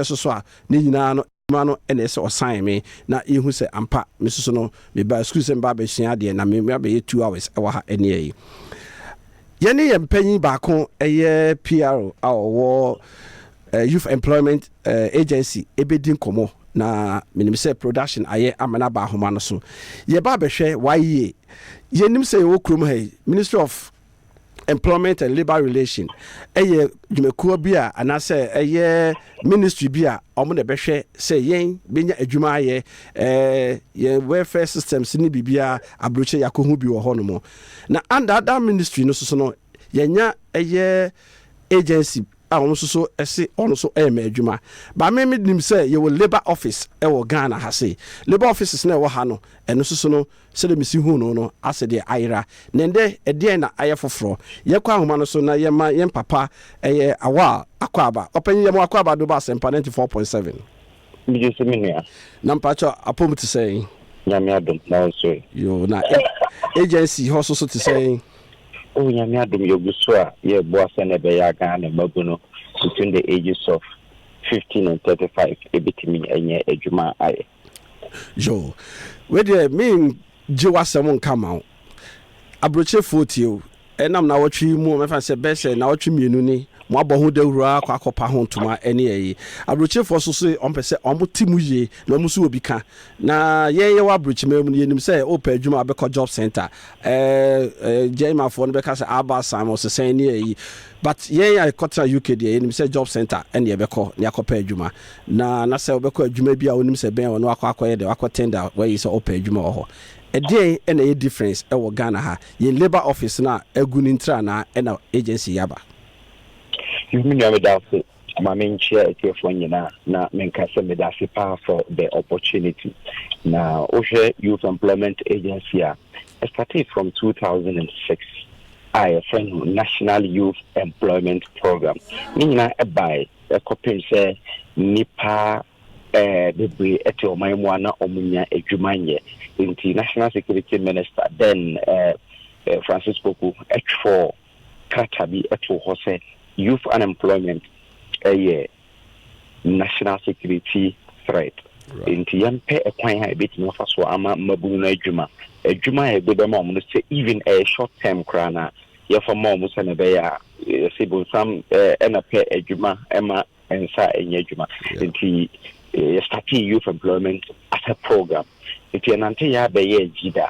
soso a, ne nyinaa no adwuma no na ɛsɛ ɔsan me na yɛhu sɛ ampa me soso no mebaa sukuu sɛ meba abɛsua adeɛ na me abɛyɛ two hours wɔ ha ɛneɛ yi yɛne yɛn panyin baako ɛyɛ PRO a ɔwɔ uh, youth employment uh, agency ɛbɛdi nkɔmmɔ na menim sɛ production ayɛ ama no aba ahoma no so yɛba abɛhwɛ waye yɛnim sɛ yɛwɔ kurom ha yi ministry of employment and labour relation ɛyɛ dwumakuo bi a anaasɛ ɛyɛ ministry bi a wɔn na ɛbɛhwɛ sɛ yɛn bɛnya adwuma ayɛ ɛɛ yɛn welfare systems ne biribiara aburokyɛ yɛakɔhu bi wɔ hɔnom na under that ministry no soso no yɛnya ɛyɛ agency a wɔn nso so se wɔn nso rema adwuma ba me me nim sɛ yɛwɔ labour office wɔ Ghana ha sei labour offices na ɛwɔ ha no ɛno nso so no sɛdeɛ mesi huu no no asɛ deɛ ayera na ɛndɛ ɛdeɛn na ayɛ foforɔ yɛkɔ ahoma no so na yɛma yɛn papa ɛyɛ Awal Akwaaba ɔpanyin yɛma Akwaaba Adoba Asempa 94.7. Megye so me nua. Na mpakyɛ apɔmu te sɛn? Nyame adom na ɔsoe. Yoo na agency hɔ so so te sɛn? Oh Nyame adom yɛgu so a yɛboa sɛnea ɛbɛyɛ a Ghana mmabunu between the ages of 15 and 35 ɛbɛtumi anya adwuma ayɛ. Yoo wei deɛ me Gye w'asɛm nka mma wo aburokyerefoɔ tie o. Ɛnam nnawɔtwe yi mu, mɛfa no sɛ bɛyɛ sɛ nnawɔtwe mmienu ni, moabɔ ho dawuro ara kɔ akɔpa ho ntoma ne ayi. Aburokyerefoɔ nso se wɔpɛ sɛ wɔte mu yie na wɔn nso wɔ bi ka. Na yɛn yɛwɔ aburokyiman mu no, yɛnim sɛ wopɛ adwuma a wobɛkɔ job centre, ɛɛ Gyaimafoɔ no bɛka sɛ aba sam ɔsesɛn ne ayi. But yɛn a yɛkɔtena UK deɛ, yɛnim sɛ job centre ne yɛbɛkɔ na yɛakɔpɛ adwuma. Na na sɛ ɔbɛkɔ adwuma bi a ɔnim sɛ bɛn wɔ na wakɔ akɔyɛ dɛ wakɔ tender wɔ yi sɛ ɔpɛ adwuma wɔ hɔ. Ɛdeɛn na ɛyɛ difference ɛwɔ Ghana ha? Yɛn labour office no a agu no ntira anaa ɛna agency yi aba? Yuh me nua meda ase ma me nkyerɛ atiefoɔ nyina na me nka sɛ meda ase paa for the opportunity na wo hwɛ youth employment agency a ɛstartee from two thousand and six a yɛfrɛ no national youth employment program ne nyina ɛbae kɔpem sɛ nnipa bebree te ɔman mu a na wɔnya adwuma nyɛ. Nti National Security Minister then Francis Poku twerɛɔ krata bi too hɔ sɛ youth unemployment yɛ national security threat. Nti yɛmpɛ kwan a ebetumi afa so ama mmabunu no adwuma. Adwuma a yɛde bɛma wɔn no sɛ even ɛyɛ short term koraa no a yɛfa ma wɔn sɛnea ɛbɛyɛ a yɛse bonsam ɛna pɛ adwuma ɛma nsa ɛnyɛ adwuma nti yɛstate youth employment as a program nti ɛnante yɛ abɛyɛ agyi da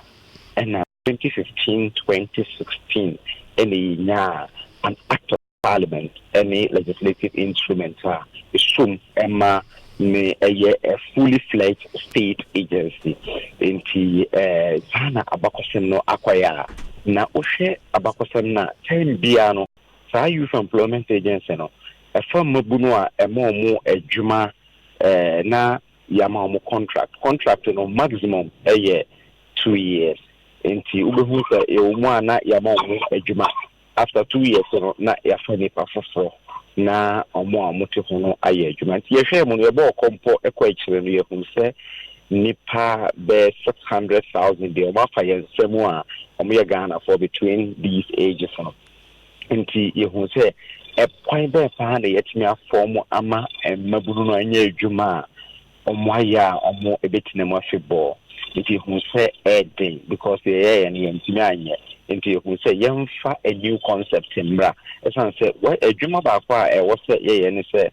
ɛna 2015 2016 ɛna yɛnyaa an act of parliament ɛne legislative instrument a ɛsom ɛma ne ɛyɛ a fully fledged state agency nti eh, saa na abakɔsɛm no akɔyɛ a na wohwɛ abakɔsɛm no a time biara no saa youth employment agency no ɛfa mmabunu a ɛma ɔmo adwuma eh, na yɛama ɔmo contract contract no maximum ɛyɛ two years nti wobɛhu sɛ ɛwɔ mu a na yɛama ɔmo adwuma After two years no na yɛafa nnipa foforɔ na wɔn a wɔte ho no ayɛ adwuma. Nti yɛhwɛɛ mu no yɛbɔɔ kɔ mpo kɔ akyire no yɛhunu sɛ nnipa bɛyɛ six hundred thousand deɛ wɔafa yɛn nsa mu a wɔyɛ Ghanafoɔ between these ages no. Nti yɛhunu sɛ ɛkwan bɛɛ paa na yɛatumi afɔm ama mmabunu no anyɛ adwuma a wɔayɛ a wɔbɛtena mu afebɔɔ. Nti yɛhunu sɛ ɛyɛ den because yɛyɛeɛ no yɛantumi anyɛ. Nti yɛhunu sɛ yɛmfa a new concept mmra. Ɛsiane sɛ adwuma baako a ɛwɔ sɛ yɛyɛ ne sɛ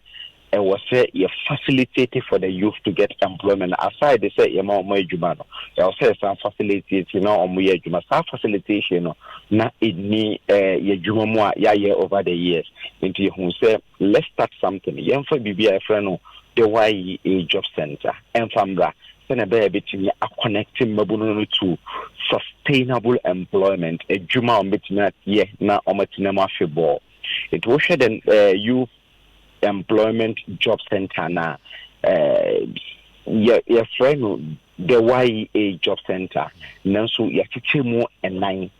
ɛwɔ sɛ yɛ facilitate for the youth to get employment aside sɛ yɛma wɔn adwuma no ɛwɔ sɛ yɛsan facilitate na wɔn yɛ adwuma saa facilitation no na ɛni ɛɛ yɛ adwuma mu a yɛayɛ over the years nti yɛhu sɛ let's start something yɛmfa biribi a yɛfrɛ no de YEA Job Centre mfa mmra sɛnea ɛbɛyɛ a ɛbɛtumi akɔnɛkte mmabunu no to sustainable employment, adwuma a wɔbɛtumi ayɛ na wɔatena mu afebɔɔ. Nti wohwɛ the uh, Youth Employment Job Centre no a, uh, yɛfrɛ no the YEA Job Centre, nanso yɛakyekyɛ mu nnan.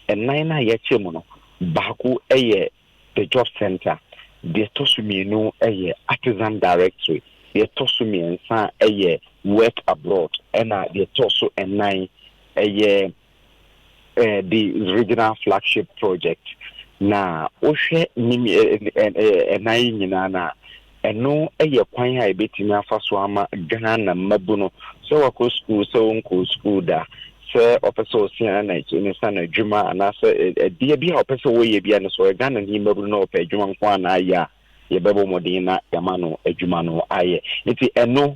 Nnan no a yɛakyɛ mu no, baako yɛ The Job Centre, deɛ ɛtɔ so mmienu yɛ Artisan Directory, deɛ ɛtɔ so mmiɛnsa yɛ Work Abroad, ɛna deɛ ɛtɔ so nnan yɛ the Regional Flagship Project. Na wohwɛ nnan yi nyinaa no a, Ɛno yɛ kwan a yɛbɛtumi afa so ama Ghana mmabunu, sɛ wakɔ sukuu, sɛ ɔnkɔɔ sukuu da, sɛ ɔpɛ sɛ ɔsua na ne sa no adwuma anaasɛ ɛdeɛ bi a ɔpɛ sɛ ɔyɛ bia no, sɛ ɔyɛ Ghana ni mmabunu na ɔpɛ adwuma nko a na ayɛ a, yɛbɛbɔ mmɔden na yɛama no adwuma no ayɛ. Nti ɛno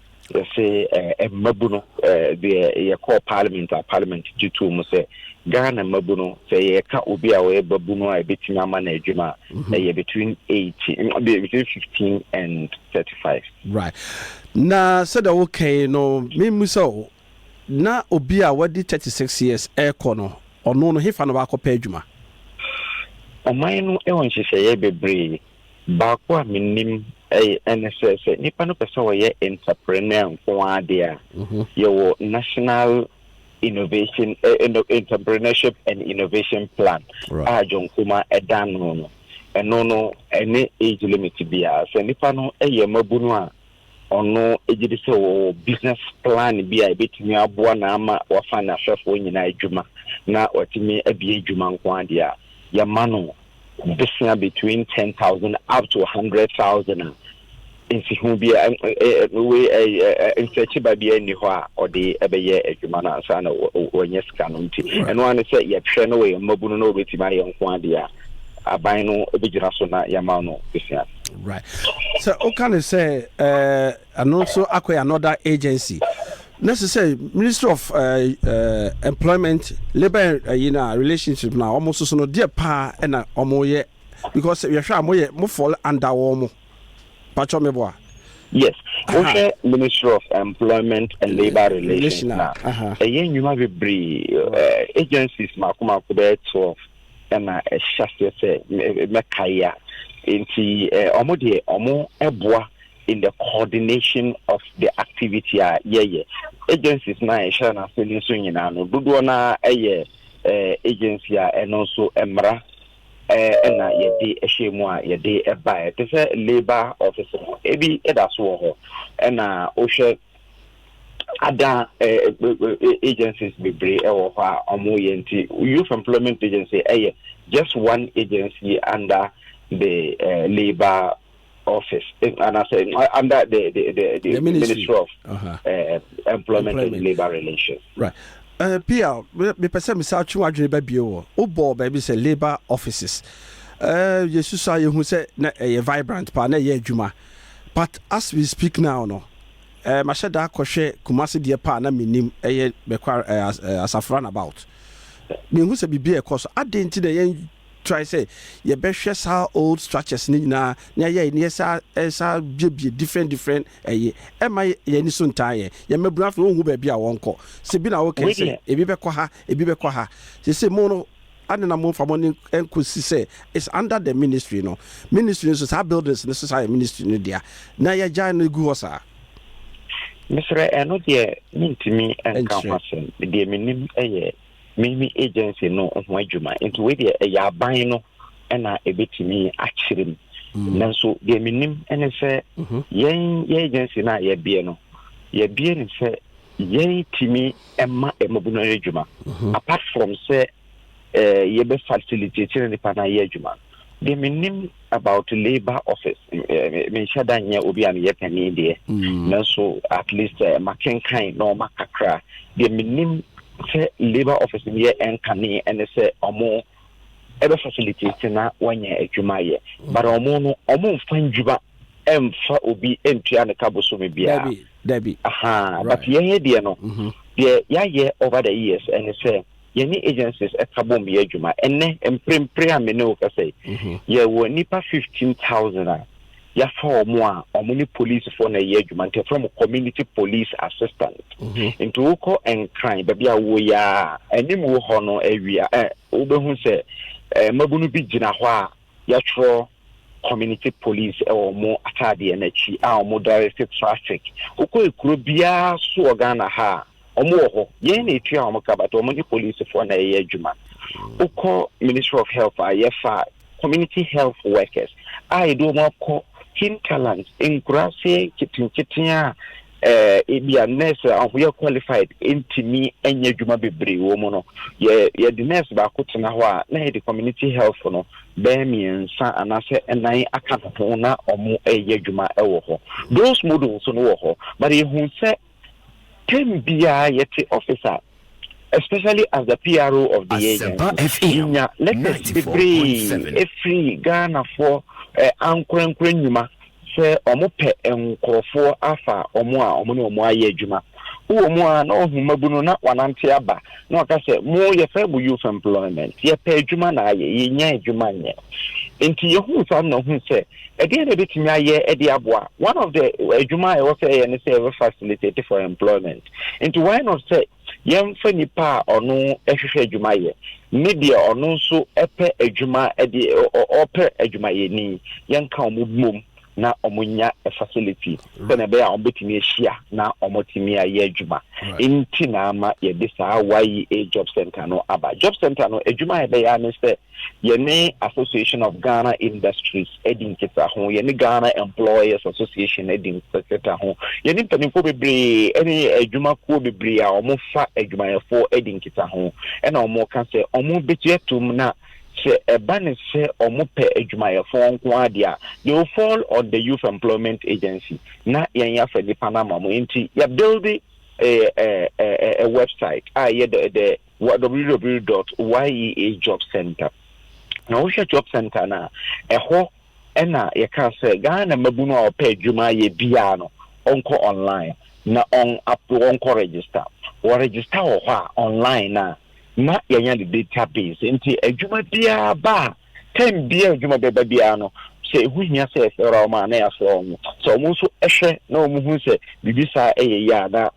Yɛse eh, mmabu no eh, deɛ yɛkɔɔ parliament a parliament gye too mu sɛ Ghana mmabu no sɛ yɛka obi a ɔyɛ babu no a ɛbɛtumi ama no adwuma a mhm. ɛyɛ between 18 between 15 and 35 right na sɛdeɛ wokɛn no memu sɛ o na obi a wadi 36 years ɛrekɔ no ɔno no hefa no wakɔpɛ adwuma ɔman no wɔ nhyehyɛeɛ bebree Baako a menim ne sɛ, sɛ nnipa no pɛ sɛ wɔyɛ entrepreneur nko ara deɛ a, yɛwɔ National Innovation, Entrepreneurship and Innovation Plan a John Nkrumah da ano no. Ɛno no, ɛne age limit biara. Sɛ nnipa no yɛ mmabunu a, ɔno gye di sɛ wɔwɔ business plan bi a ebetumi aboa na ama wafa ne ahwɛfoɔ nyinaa adwuma na watumi abie adwuma nko ara deɛ a, yɛma no bosea between ten thousand up to hundred thousand a nsiho bi wei nsɛkyeba bi nni hɔ a ɔde ɛbɛyɛ adwuma no ansa na wɔnyɛ sika no nti ɛno ara ne sɛ yɛhwɛ no wɔ yɛn mmabunu na wɔbɛtumi ayɛ nko ara deɛ a aban no bɛgyina so na yɛma no bosea. Right. Sɛ woka ne sɛ ɛno nso akɔyɛ another agency na sɛ sɛ ministry of employment labour ɛyi na relationship na wɔn soso no deɛ paa ɛna wɔn yɛ because yɛhwɛ a wɔyɛ mo fall under wɔn mo patwɔ mi bɔ a. yes wohwɛ ministry of employment and labour relations na ɛyɛ nnwuma bebree agencies mako mako bɛyɛ twelve. na ɛhyɛ aseɛ sɛ mɛkae a nti wɔn deɛ wɔn boa in the coordination of the activity a yɛyɛ agencies na ɛhyɛ n'ase no nso nyinaa no dodoɔ na ɛyɛ eh, agency a ɛno nso mmara eh, ɛna yɛde ɛhyɛ mu a yɛde ɛbaeɛ te sɛ labour office no ebi ɛda so wɔ hɔ ɛna wohwɛ ada agencies bebree wɔ hɔ a wɔn yɛ nti youth employment agency ɛyɛ just one agency under the uh, labour office eh, and I say uh, under the the, the, the, the ministry. ministry. of uh-huh. uh, employment, employment and labour relations. Right. Uh, Pia, mepɛ sɛ mesa twe wadwene ba bio wɔ wobɔɔ baabi sɛ labour offices uh, yɛsusu a yɛhu sɛ na ɛyɛ vibrant paa na ɛyɛ adwuma but as we speak now no Eh, mahyɛ da kɔ hwɛ Kumasi deɛ paa na menim ɛyɛ Bekwar eh, as, eh, Asafo runabout. Mehu sɛ biribi ɛkɔ so. Adɛn nti na yɛn try sɛ yɛbɛhwɛ saa old structures no nyinaa na yɛyɛ ne yɛsa ɛsa biebie different different ɛyɛ ɛma yɛn ani so ntaa yɛn yɛn mmabunu afei wɔn hu baabi a wɔn kɔ sɛ bi na wɔkɛ sɛ ebi bɛkɔ ha ebi bɛkɔ ha sɛ sɛ mo no Adɛn na momfa mo nne nkɔsi sɛ it's under the ministry no? Ministry no so, saa buildings no so saa yɛ ministry no dea, na yɛagyae no agu hɔ saa? Mesrɛ, ɛno deɛ mentumi nka ho asɛm. Deɛ menim yɛ mimi agency no ho adwuma. Nti wei deɛ ɛyɛ aban no ɛna ɛbɛtumi akyerɛ mu. Mm. Nanso deɛ menim ne sɛ mhm. yɛn yɛ agency no a yɛbie no, yɛbie ne sɛ yɛtumi ɛma mmabun no yɛ adwuma mhm. apart from sɛ eh, yɛbɛ facilitate ne nipa no ayɛ adwuma deɛ menim about labour office eh, menhyɛ da nyɛ obi a meyɛ panin deɛ mm. nanso at least eh, makenkan na ɔma kakra deɛ menim sɛ labour office no yɛ ɛnkane ɛne sɛ ɔmo ɛbɛ facilitate na wanya adwuma yɛ but ɔmo no ɔmo nfa ndwuma ɛnfa obi ɛntua ne ka bosome biara dabi aha but yɛn yɛ deɛ no mm-hmm. deɛ yɛayɛ over the years ɛne sɛ yɛne agencies ɛka bom yɛ adwuma ɛnɛ mprempren a mene wo kasa yi mm-hmm. yɛwɔ nipa fifteen thousand a Yɛafa wɔn a, wɔn ne polisifo na ɛyɛ adwuma nti yɛfrɛ wɔn community police assistant. Nti wokɔ Nkran baabi a wowɔ yi a, anim wɔ hɔ no awia ɛ wobɛhu sɛ ɛ mmabunu bi gyina hɔ a yɛatwerɛ community police ɛwɔ wɔn ataadeɛ no akyi a wɔn direct traffic. Wokɔ ekuro biara so wɔ Ghana ha a. Wɔn wɔ hɔ, yɛn na etua wɔn ka but wɔn ne polisifoɔ na ɛyɛ adwuma. Wokɔ Ministry of Health a yɛfa community health workers a yɛde wɔn akɔ hinterlands, nkuraase nketenkete a eh, ebi a nurse a wɔyɛ qualified ntumi nyɛ adwuma bebree wɔ mu no. Yɛ yɛde nurse baako tena hɔ a na yɛde community health no bɛyɛ mmiɛnsa anaasɛ nnan aka ho na wɔn reyɛ adwuma wɔ hɔ. Those models no wɔ hɔ, but yɛhu sɛ Term biara yɛte office a, especially as the PRO of the agency, yenya letters bebree efiri Ghanafoɔ eh, ankorankora nnwuma sɛ wɔn pɛ nkorɔfoɔ afa wɔn a wɔn ne wɔn ayɛ adwuma. Wowɔ mu a na ɔhu mabunu na wanante aba na ɔka sɛ mo yɛfrɛ mo youth employment yɛpɛ adwuma na ayɛ yɛnya adwuma nyɛ. Nti yɛhu saa na ɔhu sɛ Ɛdeɛn na yɛbɛtumi ayɛ de aboa? One of the adwuma a ɛwɔ sɛ yɛyɛ ne sɛ yɛbɛ facilitate for employment. Nti why not sɛ yɛmfa nipa a ɔno hwehwɛ adwuma yɛ ne deɛ ɔno nso pɛ adwuma de ɔpɛ adwumayɛni yɛnka wɔn bom na wɔn nya facility sɛnea ɛbɛyɛ a wɔn bɛtumi ahyia na wɔn tumi ayɛ adwuma. Nti na ama yɛde saa YEA job center no aba. Job center no adwuma a yɛbɛyɛ ne sɛ Yɛne Association of Ghana Industries adi nkitaho, yɛne Ghana Employers Association adi nkitaho, yɛne mpanimfoɔ bebree ne adwumakuo bebree a wɔfa adwumayɛfoɔ adi nkitaho, ɛna wɔka sɛ wɔbɛgye atom na sɛ ɛba ne sɛ wɔpɛ adwumayɛfoɔ nko ara deɛ a they will fall on the Youth Employment Agency na yɛn yɛafa nipa no ama wɔn nti yɛabuilde a website a ɛyɛ the the wɔ www dot YEA Job Centre. Na wohwɛ Job Centre no a, ɛhɔ na yɛka sɛ Ghana mmabunu a wɔpɛ adwuma ayɛ biara no, wɔnkɔ online na wɔn ap wɔnkɔ register. Wɔregister wɔ hɔ a online no a, na yɛanya ne database. Nti adwuma biara ba a, time biara adwuma bɛba biara no, sɛ ɛho hia sɛ yɛfrɛ wɔn a, na yɛafrɛ wɔn. Sɛ wɔn nso hwɛ na wɔhu sɛ biribi saa yɛ yie a, na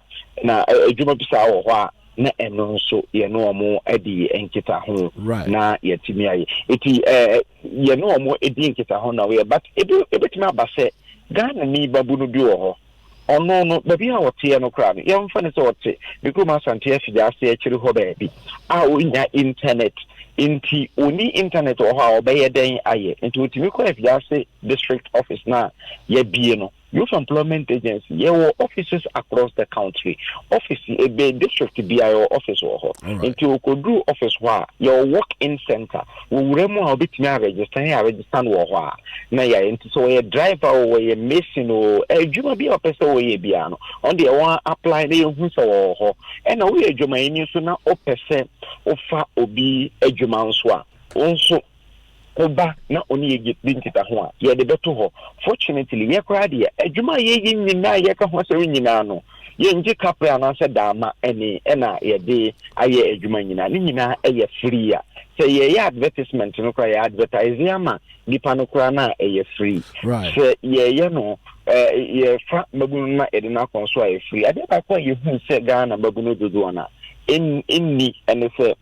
na adwuma bi saa wɔ hɔ a, na ɛno nso yɛne wɔn adi nkitaho na yɛatumi ayɛ eti ɛɛ yɛne wɔn edi nkitaho na wɔyɛ but ebi ebetumi aba sɛ ghana ni babunu bi wɔ hɔ ɔno no baabi a ɔteɛ no koraa no yɛmfa no sɛ ɔte ne kurom asante afigya ase akyiri hɔ baabi a ɔnya internet nti ɔni internet wɔ hɔ a ɔbɛyɛ dɛn ayɛ nti ɔtumi kɔ afigya ase district office no a yɛabie no Youth Employment Agency, yɛwɔ offices across the country. Office ebe district biara yɛwɔ office wɔ hɔ. Nti okoduru office hɔ a, yɛwɔ walk-in center. Wowura mu a wobɛtumi aregister yɛ aregister no wɔ hɔ a na yɛayɛ. Nti sɛ wɔyɛ driver o, wɔyɛ mason o, adwuma bi a wɔpɛ sɛ wɔyɛ biara no, wɔn deɛ wɔn apply na yɛhu sɛ wɔwɔ hɔ. Ɛna woyɛ adwumayɛni nso na wopɛ sɛ wofa obi adwuma nso a, wo nso wo ba na ɔne yɛ di nkitaho a, yɛde bɛto hɔ. Fortunately, yɛ koraa deɛ, adwuma a yɛyɛ nyinaa a yɛka ho asɛm nyinaa no, yɛngye kaprɛ anaasɛ daama ani na yɛde ayɛ adwuma nyinaa. Ne nyinaa yɛ free a. Sɛ yɛyɛ advertisement no koraa, yɛ advertise ama nipa no koraa no a, ɛyɛ free. Sɛ yɛyɛ no, yɛfa mmabunu no na yɛde no akɔ nso a, ɛyɛ free. Adeɛ baako a yɛhunu sɛ Ghana mmabunu dodoɔ no a ɛnni ɛne sɛ,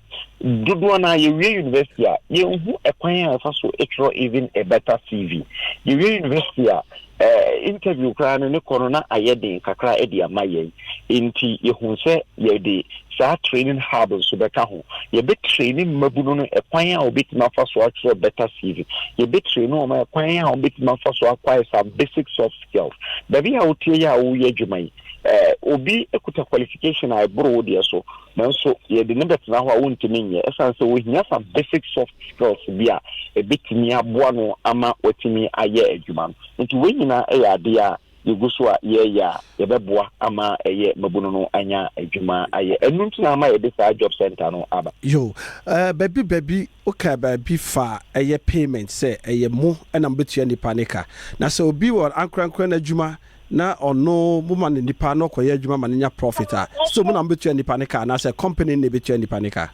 Dodoɔ no ara yɛwie university a, yɛnhu ɛkwan a yɛfa so twerɛ even a better CV. Yɛwie university a, eh, interview koraa no ne kɔ no na ayɛ den kakra de ama yɛn. Nti yɛhu sɛ yɛde saa training hub nso bɛka ho. Yɛbɛtraini mmabunu no ɛkwan a wɔbɛtumi afa so atwerɛ better CV. Yɛbɛtraini wɔn ɛkwan a wɔbɛtumi afa so acquire some basic soft skills. Baabi a wotie yɛ a woyɛ adwuma yi, eh, obi kuta qualification a ɛboro wo deɛ so. Nanso yɛde no bɛtena hɔ a wontumi nyɛ ɛsiane sɛ ohia some basic soft skills bi a ɛbɛtumi aboa no ama watumi ayɛ adwuma no. Enti wei nyinaa yɛ adeɛ a yɛgu so a yɛreyɛ a yɛbɛboa ama ɛyɛ mmabunu no anya adwuma ayɛ. Ɛno nti na ama yɛde saa job center no aba. Yo, eh, baabi baabi wokaa baabi faa ɛyɛ payment sɛ ɛyɛ mo na mobɛtua nnipa no ka. Na sɛ obi wɔ ankorankora no adwuma na ɔno mo ma no nipa na ɔkɔyɛ adwuma ma no nya profit a, so mo na mobɛtua nipa no ka anaasɛ company no na ɛbɛtua nipa no ka?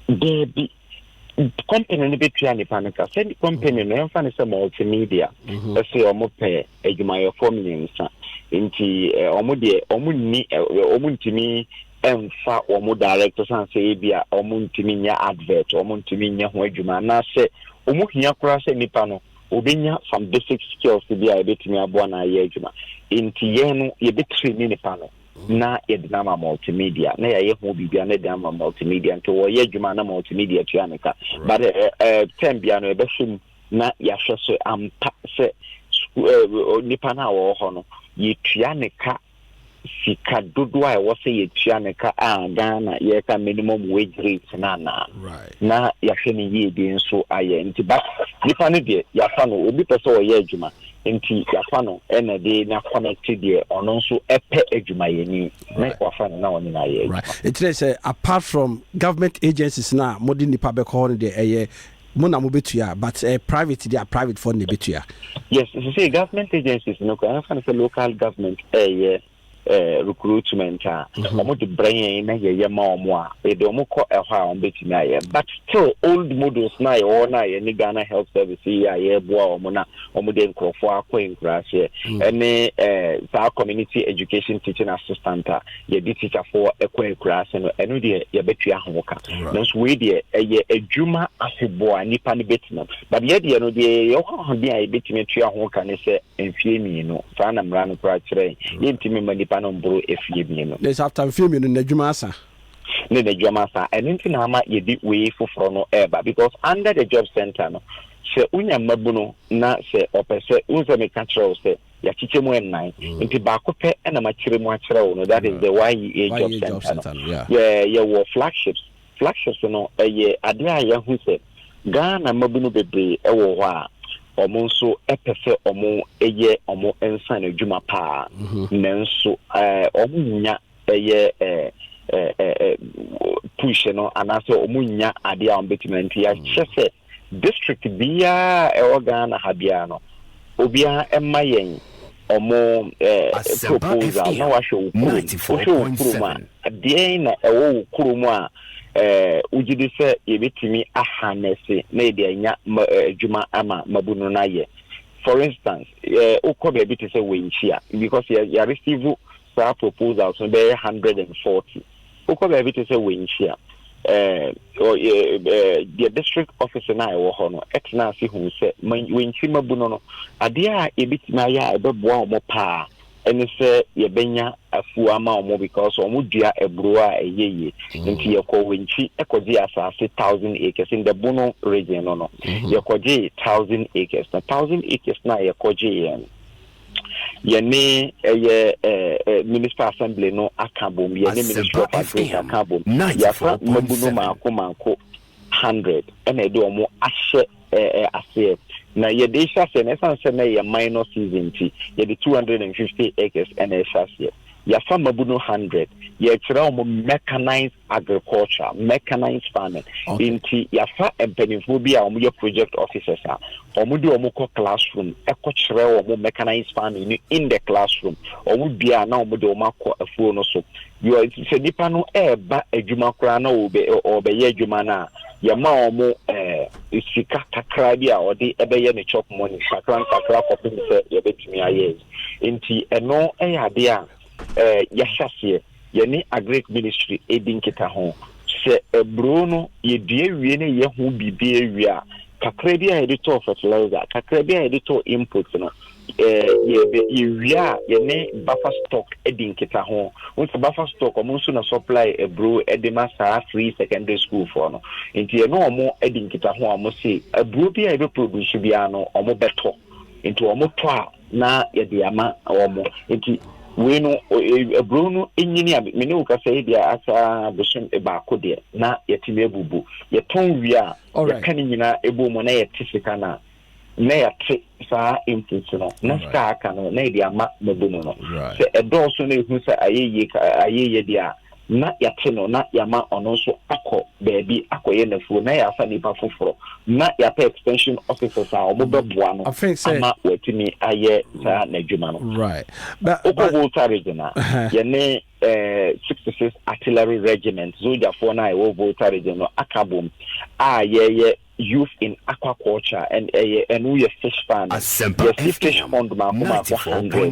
Daabi, company no bɛtua nipa no ka. Sɛ company no ɛmfa no sɛ multimedia mhm. ɛsɛ ɔmo pɛ adwumayɛfoɔ mmiɛnsa nti ɔmo deɛ ɔmo nni ɔmo ntumi ɛmfa ɔmo director san sɛ ebi a ɔmo ntumi nyɛ advert ɔmo ntumi nyɛ ho adwuma anaasɛ ɔmo hia koraa sɛ nipa no obenya some basic skills bi a ebetumi aboa no ayɛ adwuma. Enti yɛn no, yɛbɛtiri ne nipa no mm. na yɛde no ama multimedia na yɛayɛ ho biribia na yɛde ama multimedia nti wɔyɛ adwuma na multimedia tua ne ka but eh, eh, eh, term bia no yɛbɛhwɛ mu na yɛahwɛ so ampa sɛ nipa no a wɔwɔ hɔ no yɛtua ne ka sika dodoɔ a ɛwɔ sɛ yɛtua no ka a Ghana yɛka minimum wage rate no anaa na yɛahwɛ no yie de nso ayɛ nti ba nipa no deɛ yɛafa no obi pɛ sɛ ɔyɛ adwuma nti yɛafa no ɛna de na connect deɛ ɔno nso ɛpɛ adwumayɛni na wafa no na ɔne no ayɛ adwuma. Ɛkyerɛ sɛ apart from government agencies no a mode nipa bɛkɔ hɔ no deɛ ɛyɛ Mo na mo bɛ tua but ɛyɛ private deɛ a private foɔ no na ɛbɛ tua. Yes sesei government agencies no kura yɛmfa no sɛ local government ɛyɛ eh, recruitment a wɔn mhm. de brɛ yɛn na yɛyɛ ma wɔn a yɛde wɔn kɔ ɛhɔ a wɔn bɛtumi ayɛ but still old models na yɛwɔ na yɛne Ghana health service yi a yɛreboa wɔn na wɔn de nkurɔfoɔ akɔ nkuraase mhm. ɛne eh, saa community education teaching assistant a yɛde tikyafoɔ kɔ akuraase no ɛno deɛ yɛbɛtua ho ka nanso wei deɛ ɛyɛ adwuma afeboa nipa no bɛtena but yɛ deɛ no deɛ yɛyɛ hɔ ahoden a yɛbɛtumi atua ho ka ne sɛ mfie mmienu saa na mmara no koraa kyerɛ yɛntumi ma nipa no mboro afie mmienu ne sɛ after mfie mmienu no adwuma asa ne n'adwuma asa ɛno nti na ama yɛde wei foforɔ no ɛreba because under the job center no sɛ wonya mmabunu na sɛ ɔpɛ sɛ wo sɛ meka kyerɛ wo sɛ yɛakyekyɛ mu nnan mm. nti baako pɛ na makyerɛ mu akyerɛ wo no that is the YEA e job center no yɛwɔ flagships flagships no ɛyɛ adeɛ a yɛahu sɛ Ghana mmabunu bebree wɔ hɔ a wɔn nso pɛ sɛ wɔn yɛ wɔn nsa no adwuma paa mhm. nanso wɔn nya ɛyɛ push no anaasɛ wɔn nya adeɛ a wɔn bɛtumi nti yɛakyɛ sɛ district biara a ɛwɔ Ghana ha biara no, obiara ɛma yɛn ɔmo eh, proposal na wahwɛ wo kurom. Wohwɛ wo kurom a, deɛn na ɛwɔ wo kurom a eh, wogye di sɛ yɛbɛtumi ahanɛse na yɛde anya eh, adwuma ama mabunu no ayɛ. For instance, eh, wokɔ baabi te sɛ Wenkyia because yɛ, yɛ receive saa proposals no bɛyɛ 140 Wokɔ baabi te sɛ Wenchi a, deɛ district office no a ɛwɔ hɔ no tena ase hu sɛ Wenchi mmabuno no, adeɛ a yɛbɛtumi ayɛ a ɛbɛboa wɔn paa ɛne sɛ yɛbɛnya afuo ama wɔn because wɔn dua aburo a ɛyɛ yie mm. nti yɛkɔ Wenchi ɛkɔgye asase thousand acres in the Bono region no no mm-hmm. yɛkɔgye thousand acres na thousand acres no a yɛkɔgye yɛn yɛne ɛyɛ municipal assembly no aka bom yɛne ministry of agric aka bom yɛafa mmabu no maako maako hundred ɛna ɛde wɔn ahyɛ aseɛ na yɛde hyɛ aseɛ na ɛsan sɛ na ɛyɛ minor season ti yɛde two hundred and fifty acres ɛna ɛhyɛ aseɛ. Yɛafa mmabunu hundred. Yɛrekyerɛ wɔn mechanized agriculture, mechanized farming. Okay. Nti yɛafa mpanimfoɔ bi a wɔyɛ project officers a wɔde wɔn kɔ classroom ɛkɔkyerɛ wɔn mechanized farming no in the classroom. Wɔn dua a na wɔde wɔn akɔ afuo no so. Yɛ sɛ nipa no ɛreba adwuma koraa na ɔbɛyɛ adwuma no a yɛma wɔn ɛɛ eh, sika kakra bi a ɔde ɛbɛyɛ ne chop money kakra nkakra kɔpem sɛ yɛbɛtumi ayɛ. Enti ɛno yɛ adeɛ a yɛahyɛ aseɛ, yɛne Agric Ministry redi nkitaho. Sɛ aburoo no yɛdua wie na yɛyɛ ho biribiara wie a, kakra bi a yɛde tɔɔ fertilizer, kakra bi a yɛde tɔɔ inputs no, yɛde yɛwie a yɛne buffer stock di nkitaho. Wohu sɛ buffer stock wɔn nso na supply aburoo de ma saa free secondary school foɔ no. Enti yɛne wɔn di nkitaho a wɔn se aburoo bi a yɛbɛproduce biara no wɔbɛtɔ. Nti wɔn tɔ a na yɛde ama wɔn. Nti wei no aburoo no nyini a me ne wo kasa yi deɛ asa bosom baako deɛ na yɛtumi abubu. Yɛtɔn wie a yɛka ne nyinaa ɛbɔ mu na yɛte sika no a na yɛte saa inputs no na sika aka no na yɛde ama mabunu no. Sɛ ɛdɔɔso na ɛhu sɛ ayɛ yie ka ayɛ yie deɛ a na yɛate no na yɛama ɔno nso akɔ baabi akɔyɛ n'afuo na yɛafa nnipa foforɔ na yɛapɛ extension officers a wɔbɛboa no ama wɔatumi ayɛ saa n'adwuma no. Wokɔ Volta region a, yɛne sixty six artillery regiment zogyafoɔ no a ɛwɔ Volta region no aka bom a yɛyɛ Youth in Aquaculture and ɛyɛ ɛno yɛ fish farming. Asempa FM 94.7. Yɛsi fish pond mako mako hundred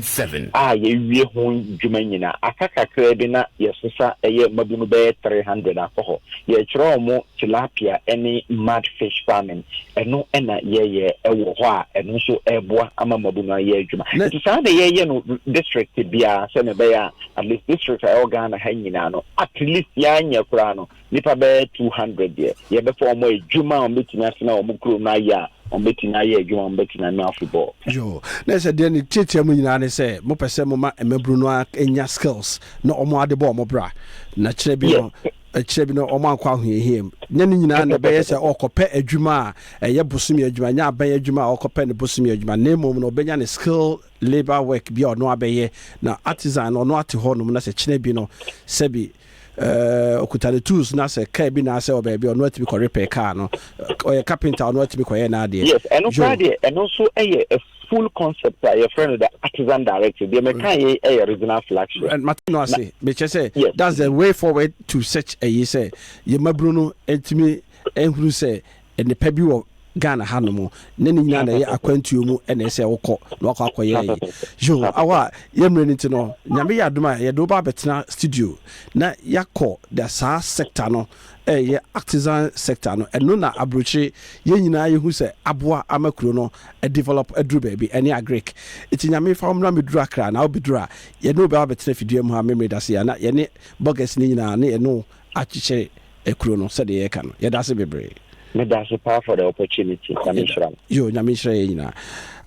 a yɛawie ho dwuma nyinaa. Aka kakraa bi na yɛsesa ɛyɛ mmabunu bɛyɛ three hundred akɔ hɔ. Yɛrekyerɛ wɔn tilapia ne mud fish farming. Ɛno na yɛreyɛ wɔ hɔ a ɛno nso reboa ama mmabunu ayɛ adwuma. Na- Nti saa na yɛreyɛ no district biara sɛnea ɛbɛyɛ a at least district a ɛwɔ Ghana ha nyinaa no at least yɛanyɛ koraa no nnipa bɛyɛ two hundred deɛ yɛbɛfa wɔn a adwuma a wɔbɛtumi atena wɔn kurom no ayɛ a wɔbɛtumi ayɛ adwuma a wɔbɛtumi ano afebɔɔ. yo na ɛsɛ deɛ ne tiatia mu nyinaa ne sɛ mopɛ sɛ moma mmabunu no anya skills na wɔn ade bɔ wɔn bra na kyerɛ bi no ɛkyerɛ bi no wɔn ankɔ ahohiahia mu nyɛ ne nyinaa na ɛbɛyɛ sɛ ɔkɔpɛ adwuma a ɛyɛ bosomi adwuma nyɛ abɛn adwuma a ɔkɔpɛ ne bosomi adwuma na mmom no ɔbɛnya ne skill labour work bi a ɔno abɛyɛ na artisan no ɔno ate hɔ nom na sɛ kyerɛ bi no sɛbi Ɛɛ, ɔkuta ne tools na sɛ car bi naasɛ ɔwɔ baabi a, ɔno atumi kɔ repair car no. Ɔyɛ carpenter a, ɔno atumi kɔyɛ n'adeɛ. Yes, ɛno koraa deɛ, ɛno nso yɛ a full concept a yɛfrɛ no the artisan directive. Deɛ meka yei yɛ regional flagship. Ɛ, mate no ase. Mekyerɛ sɛ, Yes. that's the way forward to such a yi sɛ yɛn mmabunu no ntumi nhunu sɛ nnepa bi wɔ Ghana ha nom na ne nyinaa na ɛyɛ akwantuo mu na ɛsɛ sɛ wokɔ na wakɔ akɔyɛ yi yo awɔ a yɛ mmerɛ no nti no Nyame yɛ adom a yɛde wo ba abɛtena studio na yɛakɔ the saa sector no ɛyɛ artisan sector no ɛno na abrokyire yɛn nyinaa yɛhu sɛ aboa ama kuro no develop aduru baabi ɛne agric nti Nyame fa wo mmra mɛduru Accra na wobɛduru a yɛne wo bɛba abɛtena fidua mu ha memory dase a na yɛne Burgess no nyinaa ne yɛne wo akyekyere Ekuro no sɛdeɛ yɛka no yɛdaase bebree. Medase paa for the opportunity nyame nhyira mo. Yoo nyame nhyira yɛn nyinaa.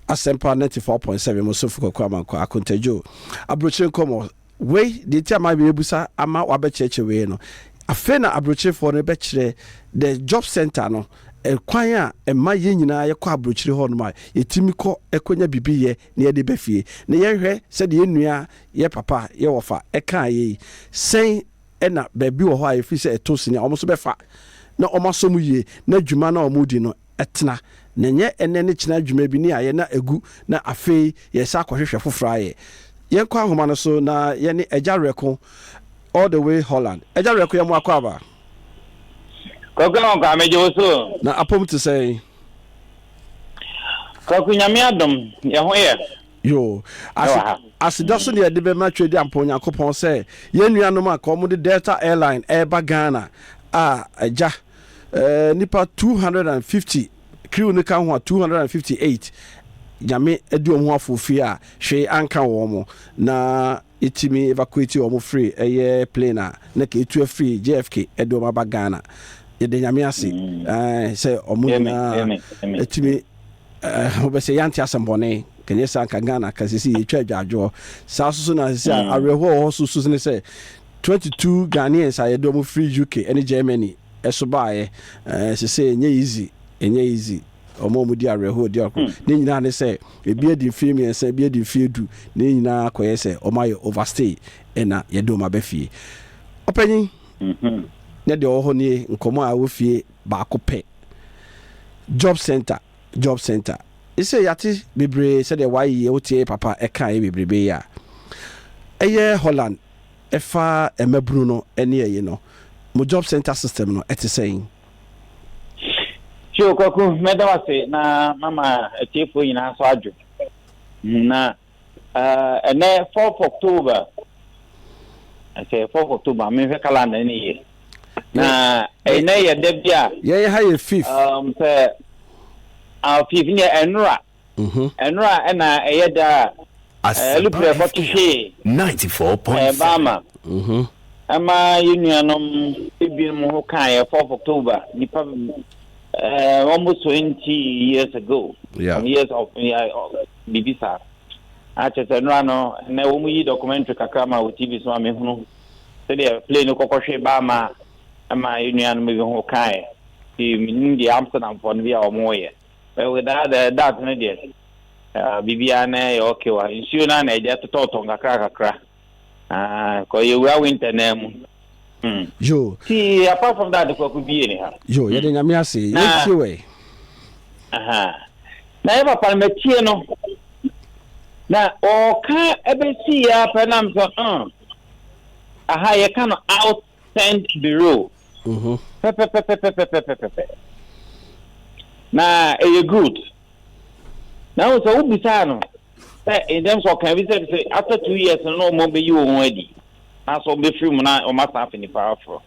Asempa ninety four point seven mo sofo Kwaku Amankwah Akontadjo abrokyire nkɔmɔ wei deɛ nti a ma me busa ama wabɛ kyerɛkyerɛ wei no afei na abrokyire foɔ no bɛ kyerɛ the job center no kwan a ɛma yɛn nyinaa yɛ kɔ abrokyire hɔ nom a yɛ timi kɔ kɔ nya biribi yɛ na yɛde bɛ fie na yɛn hwɛ sɛdeɛ yɛn nua yɛ papa yɛ wɔfa ɛkaa yɛ yi sɛn Ɛna baabi wɔ hɔ a ɛfiri sɛ ɛtɔ sini a wɔn nso bɛfa na wɔn asɔ mu yie na dwuma no a wɔredi no tena. Na ɛnyɛ ɛnnɛ ne kyena adwuma bi ne ayɛ na agu na afei yɛresan akɔhwehwɛ foforɔ ayɛ. Yɛnkɔ ahoma no so na yɛne Agya Reko all the way Holland. Agya Reko yɛn mo akwaaba. Kwaku Ankwa megye wo so o. Na apom te sɛn? Kwaku Nyame adom yɛn ho yɛ. Yoo. Ase, aseda so na yɛde bɛma Twɛdi Ampa Onyankopɔn sɛ yɛn nuanom a ka wɔde Delta Airline ɛreba Ghana a agya eh, nnipa 250, crew no ka ho a 258, Nyame adi wɔn ho afofie a hwee anka wɔn. Na Yɛtumi evacuate wɔn firi ɛyɛ plane a na nka ɛretu afiri JFK de wɔn aba Ghana. Yɛda Nyame ase ae sɛ wɔn nyinaa tumi eh, wobɛ sɛ yɛante asɛm bɔne. Nka nyɛ saa nka Ghana ka sisi yɛtwa adwadwoɔ. Saa nso so na sisi a mm. awerɛhoɔ wɔ hɔ so so ne sɛ 22 Ghanaians a yɛde wɔn firi UK ne Germany ɛso baeɛ. Eh, sɛ sɛ ɛnyɛ easy, ɛnyɛ easy. Wɔn a wɔdi awerɛhoɔ di awerɛhoɔ. Hmm. Ne nyinaa ne sɛ, ebi adi mfeɛ mmiɛnsa, ebi adi mfeɛ du. Ne nyinaa kɔyɛ sɛ wɔayɛ overstay, ɛna yɛde wɔn aba fie. Ɔpanyin, mhm. na deɛ ɔwɔ hɔ nie, nkɔmmɔ a ɛwɔ fie baako pɛ. Job center, job center. Ɛsɛ yɛate bebree sɛdeɛ wɔayeyɛ wo teɛ papa ɛkaeɛ bebrebe yi a. Ɛyɛ Holland ɛfa mmabunu no ne ɛyi no. Mo job center system no ɛte sɛn? Hyo Kwaku, mɛda wo ase na mama atiefoɔ nyinaa nso adwo. Na uh, ɛnɛ 4 October, ɛsɛ 4 October, menhwɛ calendar no yie. Na ɛnɛ yɛ da bi a. Yɛn ha yɛ fifth. Um, sɛ, uh, fifth, neɛ ɛnora. ho. Ɛno a ɛna ɛyɛ da a Aluprɛ kɔto hwee Bama ɛma yɛn nuanom ebinom ho kaeɛ, 4th October, nnipa ɛɛ almost 20 years ago, some years of biribi saa. Akyɛ sɛ nnora no, ɛnɛ wɔn yi documentary kakra ma wɔ TV so ma mehunu sɛdeɛ plane no kɔkɔ hwee Bama ɛma yɛn nuanom bi ho kaeɛ. Menim deɛ Amsterdamfoɔ no bi a wɔyɛ. Eh without eh that no deɛ ah biribiara na ɛyɛ okay wa nsuo no a na ɛgya totɔtɔ nkakra kakra ah kɔ yɛwura winter naa mu hmm yo ti apart from that kwaku bie ne ha yo yɛde hmm. nyame ase yɛtie wɛ aha na yɛ papa no matie no na ɔka ɛbɛsi yɛ apɛ nam sɛ hmm aha yɛka no out Tent Bureau pɛpɛpɛpɛpɛpɛpɛpɛpɛ. Na ɛyɛ good. Na wohu sɛ wobisaa no sɛ in terms of ɔka bi sɛ sɛ after two years no na wɔn bɛyi wɔn ho adi na so wɔbɛfiri mu na wɔn asan afɛ nipa aforɔ.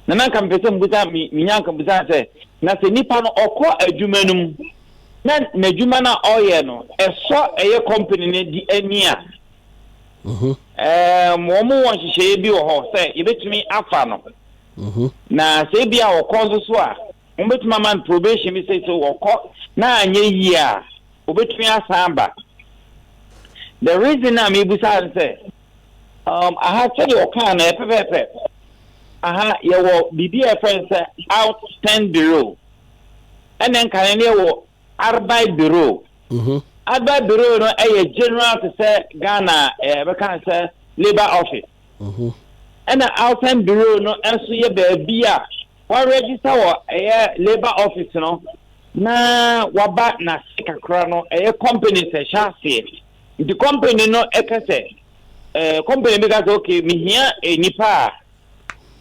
Na na nka mepɛ sɛ mbusa menya nka busa sɛ na sɛ nipa no ɔkɔ adwuma no mu na n'adwuma no a ɔyɛ no ɛsɔ ɛyɛ company no di ani a Wɔwɔ nhyehyɛeɛ bi wɔ hɔ sɛ yɛbɛtumi afa no, na sɛ ebia ɔkɔ nso so a, wɔbɛtumi ama no probation bi sɛ sɛ ɔkɔ na anyɛ yie a, ɔbɛtumi asan aba. The reason a mebusa ne sɛ, um, aha sɛdeɛ ɔkaa no ɛpɛpɛɛpɛ, aha yɛwɔ biribi a ɛfrɛ no sɛ out stand below, ɛna nka no ne yɛwɔ Arbeidsbüro, Arbeidsbüro no yɛ general te sɛ Ghana yɛbɛka no sɛ labour office. Ɛna Ausländerbüro no nso yɛ baabi a wa register wɔ ɛyɛ labour office no na waba n'ase kakra no ɛyɛ companies ɛhyɛ aseɛ. Nti company no ɛka sɛ company bi ka sɛ okay mehia nipa a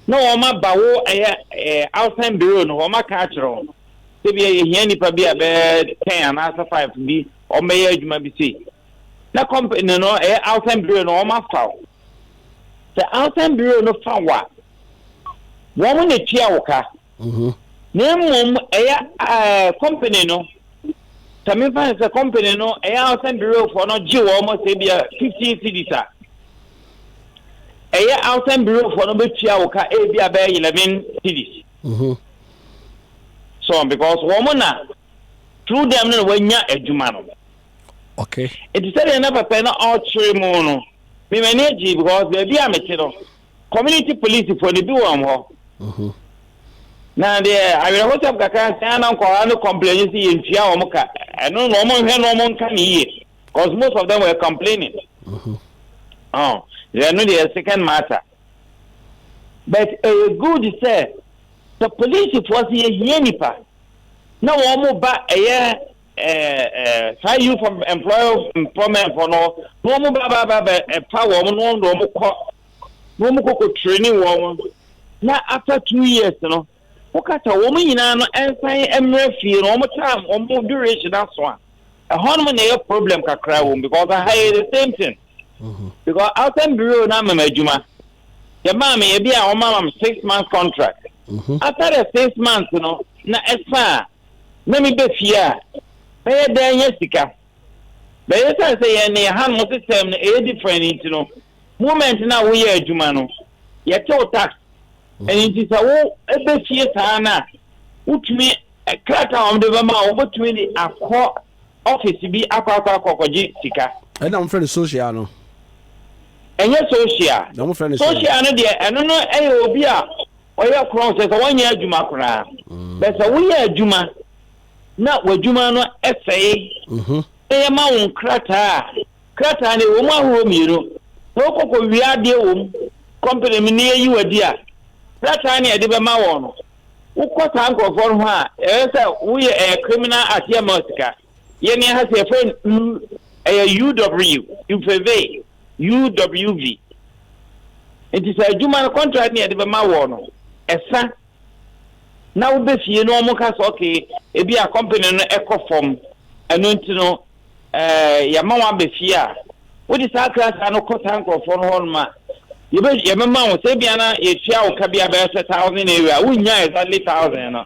na wɔn aba wo ɛyɛ ɛɛ outside bureau no wɔn aka akyerɛ wɔn sɛ bi ɛyɛ hia nipa bi a bɛyɛ ten anaasɛ five bi wɔn bɛyɛ adwuma bi sei na company no ɛyɛ outside bureau no wɔn afa wo sɛ outside bureau no fa wo a wɔn na etua wo ka. Mhm. Na mmom ɛyɛ ɛɛ company no sɛ mefa no sɛ company no ɛyɛ a sɛ mberefoɔ no gye wɔn sɛ ebi a fifteen cedis a ɛyɛ a sɛ mberefoɔ no bɛtua wo ka ebi a bɛyɛ eleven cedis. Mhm. So because wɔn na through them no na wɔanya adwuma no. Okay. Nti sɛdeɛ na papa no ɔkyerɛ mu no, me m'ani agye because baabi a mete no, community police fo no bi wɔ hɔ mhm. na deɛ awerɛhosɛm kakra sɛ ana nkɔla no complain sɛ yɛntua wɔn ka ɛno na wɔn nhwɛ na wɔn nka ne yie because most of them were complaining mhm. oh, ɛno deɛ second matter but ɛyɛ uh, good sɛ sɛ polisifoɔ sɛ yɛhia nipa na wɔn ba ɛyɛ saa youth employment fɔ no na wɔn ba ba ba bɛ ɛfa wɔn na wɔn na wɔn kɔ na wɔn kɔkɔ training wɔn na after two years no wɔka sɛ wɔn nyinaa no ɛnsan mmerɛ fie na wɔn time wɔn duration aso a ɛhɔ nom na ɛyɛ problem kakra wɔn because aha yɛ the same thing mm-hmm. because outside bureau na mɛmɛ adwuma yɛ maa mi ebi a wɔn ama mi six months contract mm-hmm. after the six months no na ɛsan a. na meba fie a, mɛyɛ dɛn anya sika? But esiane sɛ yɛn ne ɛhanom system no ɛyɛ different nti no, moment no a woyɛ adwuma no, yɛte wo tax. Ɛno nti sɛ wo ba fie saa no a, wotumi, krataa a wɔde bɛma wo, wobɛtumi de akɔ office bi akɔ akɔ akɔ akɔgye sika. Ɛna wɔfrɛ no social no? Ɛnyɛ social. Na wɔfrɛ no sɛn? Social no deɛ, ɛno no ɛyɛ obi a Ɔyɛ korɔn sɛ sɛ wɔnyɛ adwuma koraa. Bɛ sɛ woyɛ adwuma na w'adwuma no sɛe mhm. na yɛma wo nkrataa a, krataa no ɛwɔ mu ahorow mmienu na wokɔkɔ wia adeɛ wɔ mu kɔmpene mu ne yɛyi wadi a, krataa ne yɛde bɛma wɔn no, wokɔ saa nkurɔfoɔ no hɔ a, ɛyɛ sɛ woyɛ ɛyɛ criminal act yɛma sika. Yɛn ni ha sɛ yɛfrɛ no u, ɛyɛ UW, UVV, UWV. Nti sɛ adwuma no contract ne yɛde bɛma wɔ no, ɛsa na wobɛ fie no wɔn ka sɛ okay, ebi a company no ɛkɔ fam, ɛno nti no ɛɛ yɛama wɔn abɛ fie a, wode saa krataa no kɔ saa nkorɔfoɔ no hɔ nom a, yɛbɛ yɛbɛma wɔn sɛ ebi a na yɛtua wo ka bi a bɛyɛ sɛ thousand area, wonnya exactly thousand no.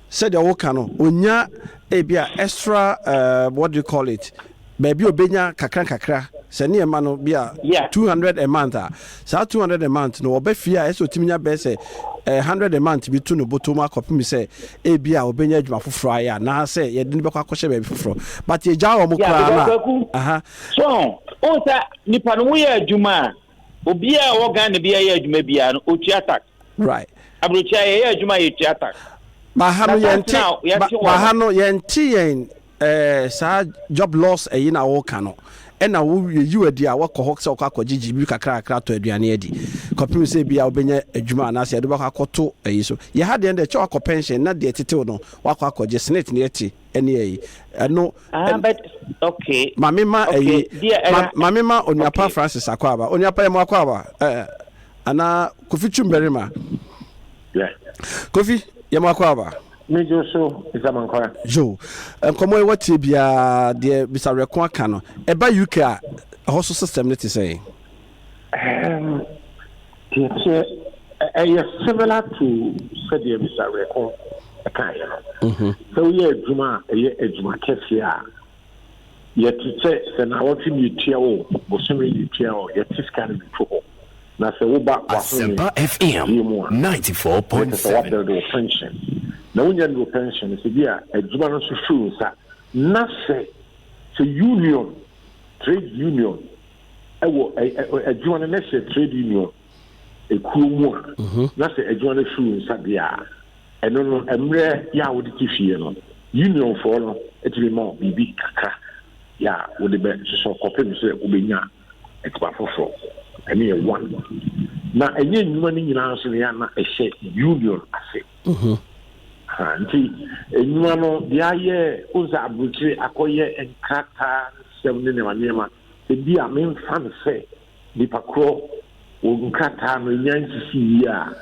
Sɛdeɛ woka no, ɔnya ebi a extra eh, what do you call it, baabi a ɔbɛnya kakra nkakra, sɛ ne ɛma no bi a Yeah. 200 a month a, saa 200 a month no ɔba fie a ɛsɛ ɔtumi nya bɛyɛ sɛ eh, 100 a month bi to ne bɔtɔ mu akɔpem sɛ ebi a ɔbɛnya adwuma foforɔ ayɛ anaasɛ yɛde no bɛkɔ akɔhyɛ baabi foforɔ but yɛgyaa wɔn Yeah, koraa because no a Kwaku, aha so, oh, sir, nipa no woyɛ adwuma a, Obiara a ɔwɔ Ghana biara yɛ adwuma biara no, ɔtua tax. Right. Aburokyire a yɛyɛ adwuma a yɛtua tax. Baha no yɛnte baha no yɛnte yɛn eh, saa job loss ɛyi na wɔka no ɛna wo yiw adi a wakɔ hɔ sɛ ɔkɔ akɔgye gyibi kakra kakra atɔ aduane adi kɔpem sɛ bi a wobɛnya adwuma anaasɛ yɛde bɛkɔ akɔto ayi so yɛha deɛ deɛ kyɛ wakɔ pension na deɛ tetew no wakɔ akɔgye senate ne ɛte ɛne ɛyi ɛno. ah but okay maame ma ɛyi maame ma onuapa francis akɔ aba onuapa yɛ mo akɔ aba ɛɛ eh, ana kofi twum barima kofi yɛ mo akɔ aba. mejo so nsamankora. yo nkɔmɔ ɛwɔ tie biara deɛ bisawerɛko aka no ɛba uk a ɛhɔ so system ne te sɛ. Teɛteɛ, ɛyɛ similar to sɛdeɛ Mr. Reko kaeɛ no. Mhm. Sɛ woyɛ adwuma a ɛyɛ adwuma kɛseɛ a, yɛte sɛ sɛ naawɔtwe ne yɛtua o, bosome ne yɛtua o, yɛte sika no bɛto hɔ. Na sɛ woba Asempa FM 94.7. Wabɛde wo pension. Na wonya ne wo pension sɛ bi a adwuma no nso firi nsa. Na sɛ sɛ union, trade union wɔ adwuma no na sɛ trade union ekuo mu a mhm. na sɛ adwuma no firi nsa deɛ a ɛno no mmerɛ yɛ a wode te fie no unionfoɔ no atumi ma biribi kakra yɛ a wode bɛ sosɔ kɔpem sɛ wobɛnya adwuma foforɔ ɛne yɛ one na ɛnyɛ nnwuma no nyinaa nso no yɛ ana ɛhyɛ union ase mhm. nti nnwuma no deɛ ayɛ wo sɛ aburokyire akɔyɛ nkrataa nsɛm ne nneɛma nneɛma ebia memfa no sɛ nipa korɔ wɔ nkrataa no nya nsisi yie a,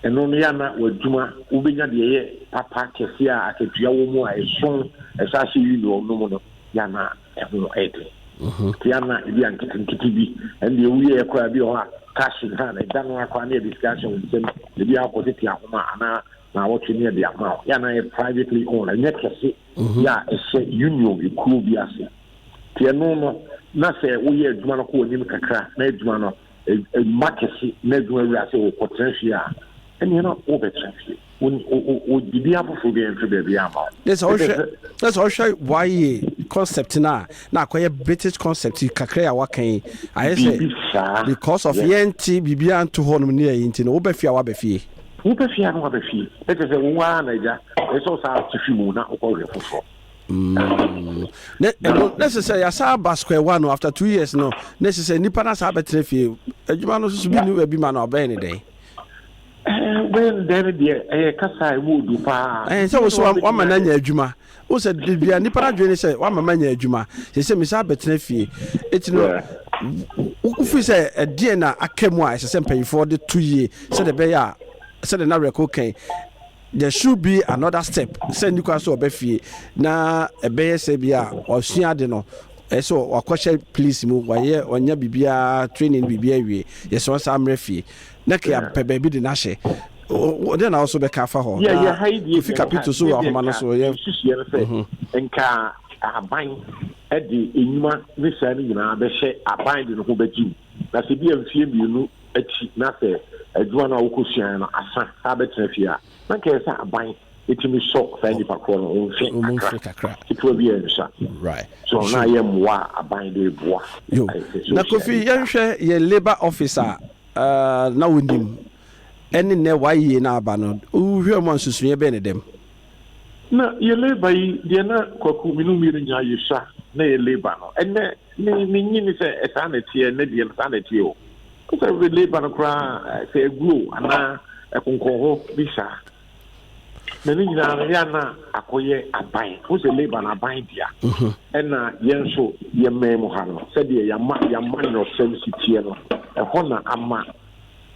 ɛno no ya na w'adwuma wobɛnya deɛ ɛyɛ papa kɛseɛ a akatua wɔ mu a ɛso ɛsɛ ahyɛ union no mu no ya na ɛho ɛyɛ den. Nti ya na ebia nketenkete bi ɛndeɛ woyɛɛ koraa bi wɔ hɔ a cash nka na ɛda no ara koraa na yɛde sika ahyɛ wo nsam, ebia wokɔ tete ahoma anaa na wɔtwe ne ɛde ama yɛ na yɛ privately owned ɛnyɛ kɛse mhm. yɛ a ɛhyɛ union ekuo bi ase te ɛno no na sɛ woyɛ adwuma no kɔ anim kakra na adwuma no mma kɛse na adwuma wura sɛ wɔkɔtena fie a ɛneɛ no wobɛtena fie wɔdidi afoforɔ bi ɛmfe baabi ama wo ne sɛ wohwɛ waye concept no a na akɔyɛ british concept kakra yi a waka yi ayɛ sɛ because of yɛnte biribiaa nto hɔ nom ne ɛyi nti no wobɛfie a woabɛfie Wo pɛ fie a na waba fie. Na kyerɛ sɛ wo ara na agya. Ɛsɛ sɛ ɔsan te fi mu na wokɔ hwɛ foforɔ. Mm. Na ɛno na ɛsɛ sɛ yɛasa aba square one no after two years no na ɛsɛ sɛ nipa no asa abɛtena fie. Adwuma no soso bi ne bi ma no ɔbɛyɛ ne dɛn? Ɛɛ bɛyɛ ne dɛn no deɛ ɛyɛ kasa a ɛmu odu paa. Ɛyɛ sɛ wosɛ wama no anya adwuma Wohu sɛ da biara nnipa no adwene ne sɛ woama manya adwuma, seesei mesan abɛtena fie. Enti no, wofiri sɛ ɛdeɛn na aka mu a ɛsɛ sɛ mpanyinfoɔ de to yie sɛdeɛ ɛbɛyɛ a sɛdeɛ na Reko kan there should be another step sɛ nni kwan sɛ ɔbɛ fie na ɛbɛyɛ sɛ bi a ɔsua ade no ɛyɛ sɛ wakɔhyɛ police mu wayɛ ɔnya biribiara training biribiara awie yɛsɛ ɔnsa mmerɛ fie Na Kea pɛ baabi de no ahyɛ. O, dɛn na wo nso bɛka afa hɔ? Yɛ, Na yɛ ha yi deɛ Kofi deɛ nka, Kapito nso wɔ sɛdeɛ ahoma no nka so, yɛ. nsusuiɛ no sɛ, Mhm. nka ahaban de nnwuma ne saa no nyinaa bɛhyɛ aban de no ho bɛgye mu, na sɛ bi a mfeɛ mmienu akyi na sɛ adwuma no a wokɔsuaeɛ no asa saa bɛtena fie a, na nka ɛyɛ sɛ aban ɛtumi sɔ saa Ɔ, nnipa korɔ no ho mfe ɔmo kakra, mfe kakra. ketewa bi a ɛnsua. Right. So na Ɛhwɛ mu. ayɛ mmoa a aban de boa Yo. ɛyɛ sɛ Na Kofi, social media. yɛnhwɛ yɛn labour office a a na wonnim ne nnɛ wɔayeyɛ no aba no, wohwɛɛ mu a nsusuiɛ bɛn na ɛda mu? Na yɛ labour yi deɛ na kwaku mene mmienu nyinaa yɛ sua na yɛ labour no ɛnɛ me me nyi ne sɛ ɛsaa na ɛteɛ ɛnɛ deɛ no saa na ɛteɛ o sɛ labour no koraa sɛ ɛguo anaa ɛkonkɔn hɔ bi saa na ne nyinaa no yɛa na akɔyɛ aban wo sɛ laban aban dea ɛna yɛn nso yɛmmɛn mu ha no sɛdeɛ yɛama yɛama nyɔsɛm si teɛ no ɛhɔ na ama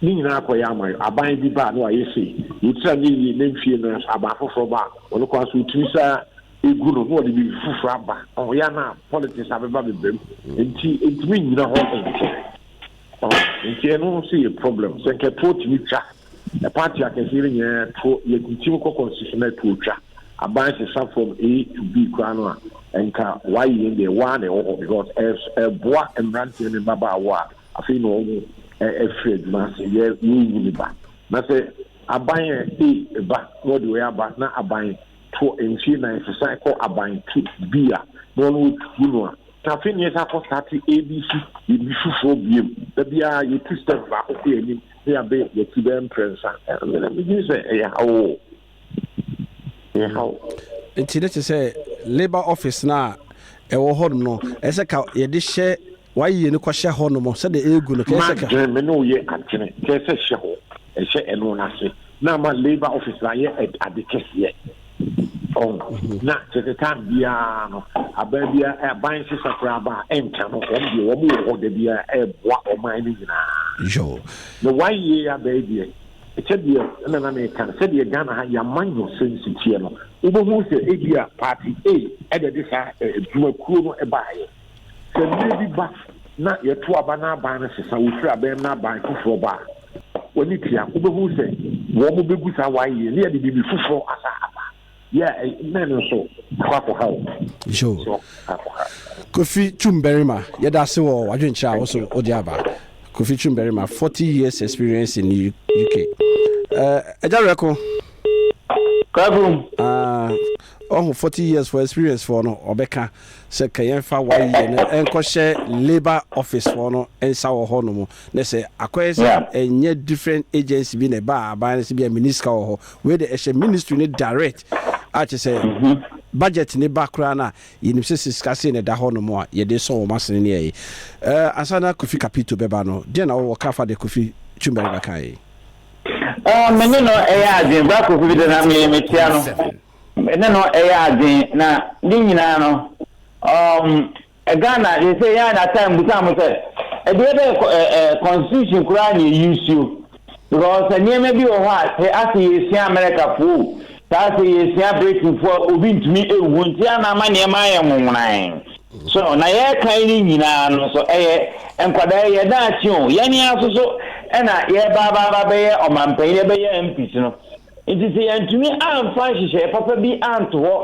ne nyinaa kɔyɛ ama yɛ aban bi baa no a yɛse yɛtira ne yie na mfie no nso aban foforɔ ba a ɔno kwan so ɔtumi saa ɛgu no na ɔde biribi foforɔ aba ɔyɛ na politics abɛba bebam nti ɛntumi nnyina hɔ nkyɛ Nti ɛno nso yɛ problem sɛ nka toɔ tumi twa party akɛseɛ no nyinaa toɔ yɛtintim kɔ constitution na toɔ twa aban sesa from A to B koraa no a nka wayɛ yɛn deɛ waa na ɛwɔ hɔ because ɛboa mmeranteɛ ne mmabaawa a afei na wɔn afiri adwuma ase yɛ yɛyi ne ba na sɛ aban a A ba na wɔde wɔyɛ aba na aban toɔ mfie nan sesa kɔ aban to B a na wɔn wɔtu no a Tafe ne yɛsan kɔ starte ABC yɛ bi foforɔ biem. Da biara yɛtu step baako kɔ yɛn anim na yɛabe yɛn akyi bɛyɛ mprɛnsa. Ɛna medwene sɛ ɛyɛ haw o. Ɛyɛ haw. Nti ne te sɛ labour office no a ɛwɔ hɔnom no, ɛsɛ sɛ ka yɛde hyɛ wayie no kɔhyɛ hɔnom sɛdeɛ ɛregu no. Kɛyɛ sɛ ka. M'adwene me ne wo yɛ adwene kɛyɛ sɛ hyɛ hɔ, ɛhyɛ ɛno no ase na ama labour office no ayɛ ade kɛseɛ. na kyerɛ sɛ tan biara no aban biara aban sesa koraa aba a ɛnka no wɔn deɛ wɔn wɔ hɔ da biara ɛreboa ɔman no nyinaa na one year aba yi deɛ sɛdeɛ ɛna na meka no sɛdeɛ ghana ha yɛama nyɔ sɛ nsiteɛ no wobɛhu sɛ ebi a party a ɛde de saa adwumakuo no baeɛ Sɛ mmire bi ba na yɛto aba na aban no sesa, wofiri aban mu na aban foforɔ ba a, w'ani tua. Wobɛhu sɛ wɔbɛgu saa waeɛ na yɛde biribi foforɔ asan aba. Yɛ a na ɛno nso akɔ akɔha wo. Yoo. Kofi Twumbarima, yɛda ase wɔ w'adwenkyerɛ a wo nso wode aba. Kofi Twumbarima, forty years experience in UK. Eh, Agya Werɛko. Kwaku. Ah, ɔho forty years for experience foɔ no ɔbɛka. sɛ ka yɛmfa wayɛ no nkɔhyɛ labour office foɔ no nsa wɔ hɔ nom na sɛ akɔyɛ sɛ ɛnyɛ different agency bi na ɛba aban no sɛ bi a mini sika wɔ hɔ wei de ɛhyɛ ministry no direct a kyɛ sɛ mhm. budget ne ba koraa no a yɛnim sɛ sɛ sika sei na ɛda hɔ nom a yɛde sɔ wɔn asene ne ɛyi eh, ansa na kofi kapito bɛba no deɛ na wɔwɔ ka fa de kofi twumbɛre bɛka yi ah, mene no ɛyɛ adwen ba kofi bi de na metia no Me ne no yɛ adwen na ne nyinaa no um Ghana they say yan na time busa mo sɛ ɛdeɛ bɛ eh, constitution koraa na ɛyi suo because nneɛma bi wɔ hɔ a sɛ asɛ yɛsua America foɔ o sɛ asɛ yɛsua Britain foɔ a obi ntumi ɛwu hɔ nti ana ama nneɛma ayɛ nwonwonan so na yɛkan ne nyinaa no so ɛyɛ nkwadaa yɛ daakye o yɛne aso so ɛna yɛbaabaaba bɛyɛ ɔmampanyin yɛbɛyɛ MPs no Enti sɛ yɛantumi amfa nhyehyɛe papa bi anto hɔ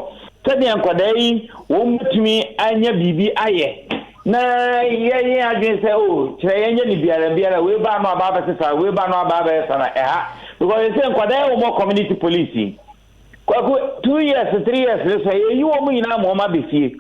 sɛnea nkwadaa yi wɔbetumi anya biribi ayɛ, na yɛyɛ adwene sɛ, oh, kyerɛ yɛnyɛ ne biara biara, wei baa no aba abɛsesa, wei baa no aba abɛsesa na ɛha, because ɛsɛ nkwadaa yɛ wɔn community police yi. Kwaku, two years, three years ne so, yɛyi wɔn nyinaa ma wɔn aba fie.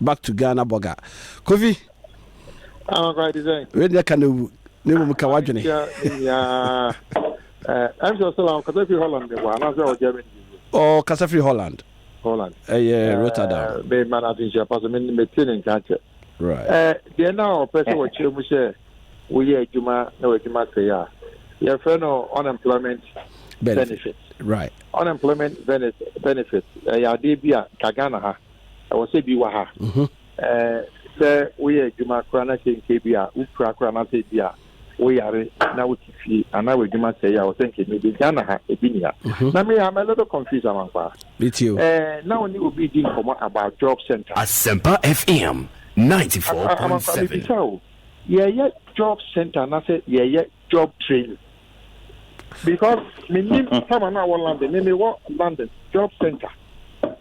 back to ghana burger kofi wei deɛ ka na wu na mmom ka wadwene ɔkasa firi holland holland ɛyɛ rotterdam mema no atenhyia pa so mete ne nka kyɛ deɛ na ɔpɛ sɛ wɔkyerɛ mu sɛ woyɛ adwuma na w'adwuma sɛe a yɛfrɛ no unemployment benefit right unemployment benefit ɛyɛ adeɛ bi a ka ghana ha ɛwɔ sɛ bi wɔ ha mhm. sɛ woyɛ adwuma koraa na sɛ nkɛ bi a wopira koraa na sɛ bi a woyare na wote fie anaa w'adwuma sɛe a wɔsɛ nkɛ bi ghana ha ebi ni ha mhm. na me I'm a little confused amankwa na wo ne obi di nkɔmmɔ about job center asɛmpa fm 94.7 yɛyɛ job center anaasɛ yɛyɛ job training because menim sama no a wɔ london me mewɔ london job center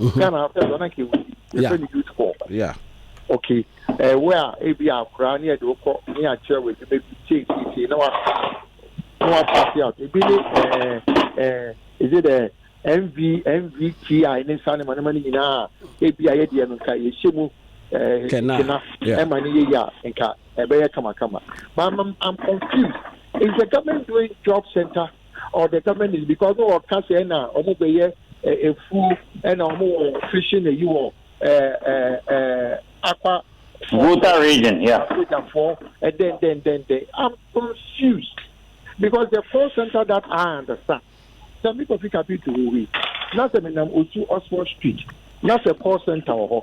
Mm-hmm. Ghana after so na kewu. Yeah. Yɛfɛ ni youth corps. Yeah. Okay. Eh, where ebi akora ne yɛde wokɔ ne akyerɛ wɔ adwuma bi tie tie tie na wa na wa pass out. Ebi ne eh eh is it eh NV NVTI ne nsa ne ma ne ma ne nyinaa ebi a yɛdeɛ no nka yɛhyɛ mu eh kena ɛma ne yɛ yɛ a nka ɛbɛyɛ kamakama. But I'm, I'm confused. Is the government doing job center? or the government is because no wɔka sɛ na wɔn bɛyɛ efuo ɛna wɔn wɔ fishing eyi wɔ ɛɛ ɛɛ akwa. Volta region, yeah. Sojafoɔ ɛdɛn dɛn dɛn dɛn I'm confused because the call center that I understand sɛ mi kɔ fi kapi to wo wi na sɛ mi nam osu Oxford street na sɛ call center wɔ hɔ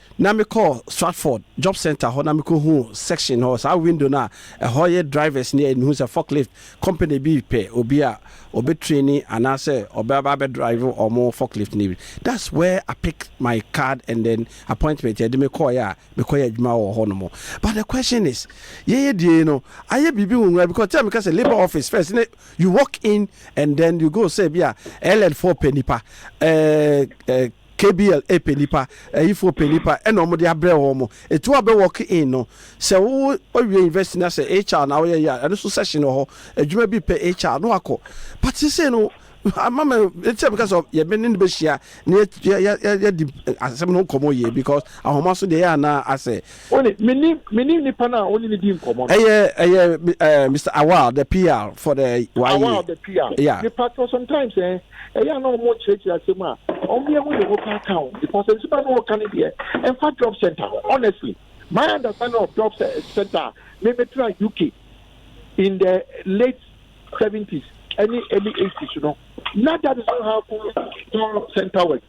Na mekɔɔ Stratford job centre hɔ na mekɔhuu section hɔ, saa window no a ɛhɔ yɛ drivers ni a mehu sɛ forklift company bi repɛ obi a ɔbɛtraini anaasɛ ɔbɛba abɛdrive wɔn forklift no bi. That's where I pick my card and then appointment a ɛde me kɔeɛ a mekɔyɛ adwuma wɔ hɔ nom. But the question is, yɛn adie no ayɛ biribi nwonwa because tell me ka sɛ labour office first no you walk in and then you go sɛ ebia LN foɔ pɛ nipa eh eh KBL e pɛ nipa, ayifoɔ pɛ nipa ɛna wɔn de abrɛ wɔn. Etu abɛ walk in no, sɛ wo awie university na sɛ HR na woyɛ yɛ a, ɛno nso session wɔ hɔ, adwuma bi pɛ HR na wakɔ. But sesei no, ama me, ɛte sɛ meka sɛ yɛ me ne no bɛhyia na yɛ, yɛ, yɛ, yɛ, yɛdi asɛm no ho nkɔmmɔ yie because ahoma so deɛ ɛyɛ a na asɛ. Wo ne, me ne, me ne nipa no a wo ne no di nkɔmmɔ no. Ɛyɛ, ɛyɛ ɛɛ Mister Awal the PR for the YA. Awal the PR. Yeah. Me patro sometimes eh, ɛyɛ a na wɔn nkyerɛkyerɛ asɛm a, wɔn yɛ ho yɛ ho paa ka ho because nsɛm a na wɔn ka no deɛ, ɛnfa job center ho honestly. My understanding of job center a, me me tra UK in the late seventies ɛne early eighties no, na that is not how job center work.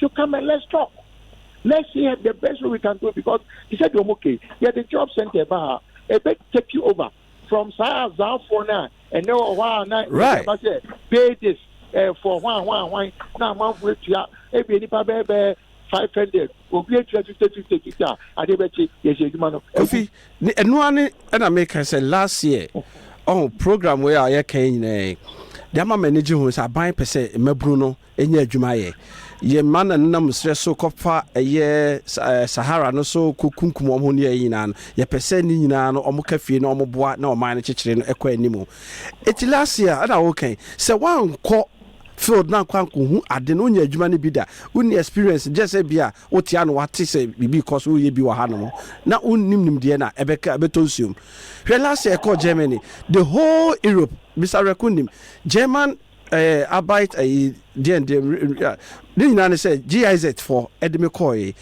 to come and let's talk. Let's see the best way we can do it because he said, You're okay. Yeah, the job center, bah, a bit take you over from Sahara Zafona and no one. Right. I said, Pay this uh, for one, one, one. Now, man, for it, yeah, a bit of a five hundred obi etua fifty fifty fifty a ade bɛ kye yɛ hyɛ adwuma no. kofi ne ɛnua ne ɛna mi kan sɛ last year ɔn oh, program wei a yɛ kan nyinaa de ama mɛ ne gye ho sɛ aban pɛ sɛ mmabunu no nya adwuma yɛ. Yɛn mma na nenam serɛ so kɔfa ɛyɛ Sahara no so kɔkunkum wɔn ho ne ɛyɛ nyinaa no. Yɛpɛ sɛ ne nyinaa no wɔka fie na wɔboa na ɔman no kyekyere no ɛkɔ anim. Enti last year ɛna woka yi, sɛ woankɔ field no ankɔ ankɔhu ade no, wonnya adwuma no bi da. Wonni experience, gyɛ sɛ ebia wote ano woate sɛ biribi rekɔ so, woyɛ bi wɔ hanom na wonnim nimdeɛ no a, ɛbɛka ɛbɛtɔ nsuom. Hwɛ last year yɛkɔɔ Germany, the whole Europe, Mister Awerɛko nim, German, Ɛɛ abait ɛyi deɛn deɛ ne nyinaa ne sɛ GIZ fɔ ɛde me kɔɔ ye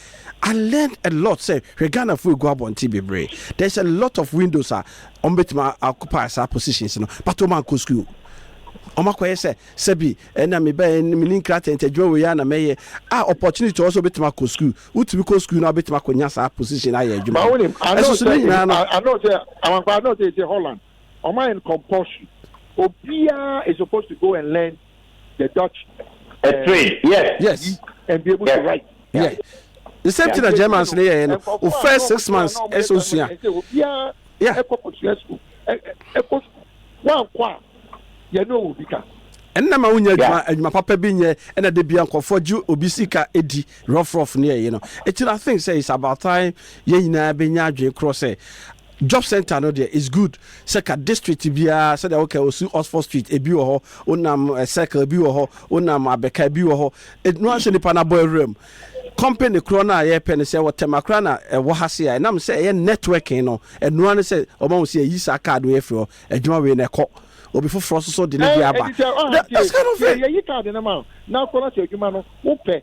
I learned a lot sɛ hwɛ Ghana fo egu abɔnten bebree there is a lot of windows a wɔn betumi a occupy saa positions no but wɔn ankɔ school wɔn akɔyɛ sɛ sɛbi ɛna me bɛyɛ ne me ne nkira tɛntɛ adwuma wɔ yi ana mɛyɛ a opportunity wɔ so betumi akɔ school wotumi kɔ school na betumi akɔ nya saa position ayɛ adwuma no ɛso so ne nyinaa no. Ano sɛ amankwa ano sɛ ɛsɛ Holland. Wɔayɛ no compulsory. Obiara is supposed to go and learn the Dutch eh, trade. Yes. Yes. And be able yes. to write. Yeah. yeah. The same yeah. thing that Germans no yɛ no. O first six months ɛsɛ osua. Obiara ɛkɔ kosua school ɛkɔ school wankɔ a yɛn no wɔ bi ka. ɛnna ma wonya adwuma adwuma papa bi nyɛ ɛna de bia nkɔfoɔ gye obi sika di rɔfrɔf ne ɛyi no ɛti na think sɛ it's about time yɛn nyinaa bɛnya adwene korɔ sɛ Job centre no deɛ it's good sɛ ka district biara sɛdeɛ wo ka osu Oxford street ebi wɔ hɔ wo nam eh, circle ebi wɔ hɔ wo nam abɛka ebi wɔ hɔ ɛno ahyɛ nipa n'abɔ awura mu company korɔ no a yɛpɛ no sɛ wɔtɛm akora na ɛwɔ ha se a ɛnam sɛ ɛyɛ networking no ɛnoa no sɛ ɔma wo sɛ yɛyi saa card wei afiri hɔ adwuma wei na ɛkɔ obi foforɔ nso so de ne bi aba that's kind of it. yɛyi card no ma na akɔ no sɛ adwuma no wopɛ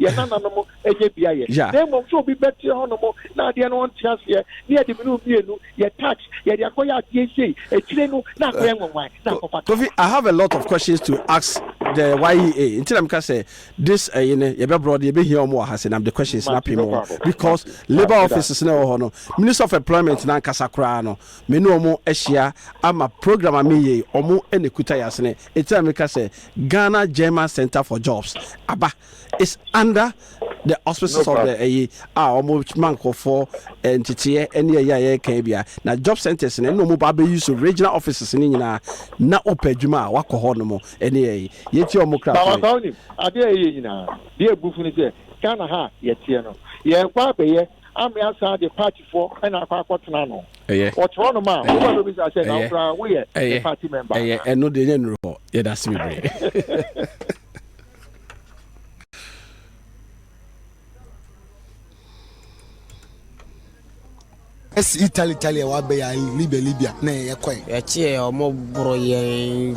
yɛn nananom anya bi ayɛ yeah. na mmom sɛ obi bɛteɛ hɔnom na adeɛ no ɔnte aseɛ ne yɛde mene mmienu yɛ tax yɛde akɔyɛ adeɛ sei akyire no na akɔyɛ nwanwan na akɔfa kofi i have a lot of questions to ask the yea nti na meka sɛ this ɛyi eh, no yɛbɛbrɔ de yɛbɛhia ɔm wɔ ha sɛ nam the questions na apem wɔ because labor offices na ɛwɔ hɔ no minister of employment na ankasa koraa no me ne ɔmo ahyia ama program a meyɛ ɔmo ɛna kuta yɛ asene Eti a me ka sɛ Ghana German Centre for Jobs aba is under the auspices of the ɛyi a ɔmo ma nkorɔfoɔ nteteɛ ɛne ɛyi a yɛɛka yi bia na job centres no ɛna ɔmo ba abɛyi so regional offices no nyinaa na ɔpɛ adwuma a wakɔ hɔ nom ɛne ɛyi yɛtie ɔmo kra to me. Adeɛ a ɛyɛ nyinaa deɛ ɛbu fu ne sɛ Ghana ha a yɛteɛ no yɛɛkɔ abɛyɛ Amea saa de party foɔ ɛna akɔ akɔ tena no. Ɛyɛ. Ɔte hɔ nom a wo ba bɛ bisa sɛ na wo koraa wo yɛ the party member. Ɛyɛ ɛno deɛ yɛ nuru hɔ yɛ da se bebree. Italy Italy a wabɛyɛ Libya Libya na yɛkɔe. Yɛkyeɛ ɔmo boro yɛn.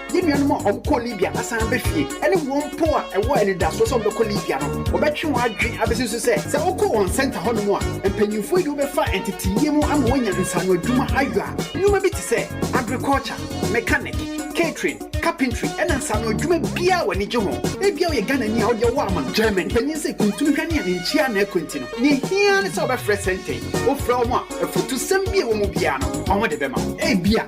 Yɛn nuanom a wɔkɔɔ Libya na san ba fie, ne wɔn mpo a ɛwɔ anidaso sɛ wɔbɛkɔ Libya no, wɔbɛtwe wɔn adwene abesi so sɛ, sɛ wokɔ wɔn sɛnta hɔnom a, mpanyimfo yi de wo bɛfa nteteeɛ mu ama woanya nsaano adwuma ayɔ a nnwuma bi te sɛ agriculture, mechanic, catering, carpentry, ne nsaano adwuma biara a w'ani gye ho. Ebia woyɛ Ghanani a wode ɔwɔ aman German panyin sɛ kuntunu hwɛ ne a ne nkyia nna ɛkɔ nti no, nea ehia ara ne sɛ wobɛfrɛ sɛnta yi. Wofrɛ wɔn a, afutusɛm bi a ɛwɔ mu biara no, wɔde bɛma wo. Ebia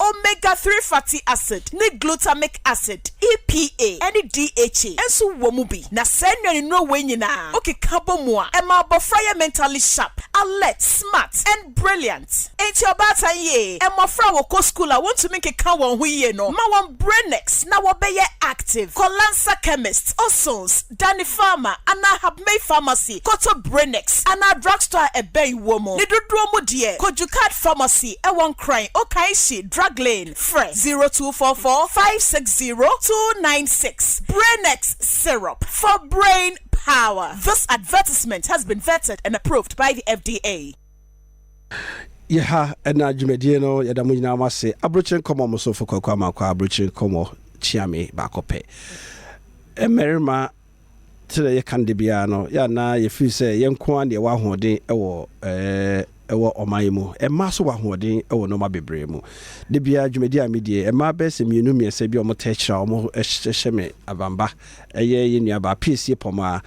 Omega three fatty acid ne glutamic acid, EPA, ne DHA nso wɔ mu bi. Na saa nnuanennuro wei nyinaa wokeka bɔ mu a, ɛma abɔfra yɛ mentally sharp, alert, smart, and brilliant. Enti ɔbaatan yee mmɔfra a wɔkɔ sukuu a wontumi nkeka wɔn ho yie no ma wɔn brain next na wɔbɛyɛ active. Kɔlansa chemist, Osons. Danny Pharma anaa Habmay Pharmacy kɔtɔ Branex anaa Drug Store a ɛbɛn wo mu. Ne dodoɔ mu deɛ, kɔ Jukaad Pharmacy ɛwɔ Nkran, Okaishie, Drug Lane, frɛ, zero two four four five six zero two nine six. Branex Syrup for Brain Power This advertisement has been vetted and approved by the FDA. Yɛha ɛna dwumadie no yɛda mo nyinaa mo ase Aburokyire nkɔmɔ mo somfo Kwaku Amankwah Aburokyire nkɔmɔ kyeame baako pɛ Mmarima sɛdeɛ yɛka no da biara no yɛ a na yɛfiri sɛ yɛn nko ara na yɛwɔ ahoɔden wɔ ɛwɔ ɔman yi mu Mmaa nso wɔ ahoɔden wɔ nnoɔma bebree mu Da biara dwumadie a medie mmaa bɛyɛ sɛ mmienu mmiɛnsa bi a wɔtaa hyira wɔn hyɛ me avamba Ɛyɛ yɛn nuabaa Piesie Pɔmaa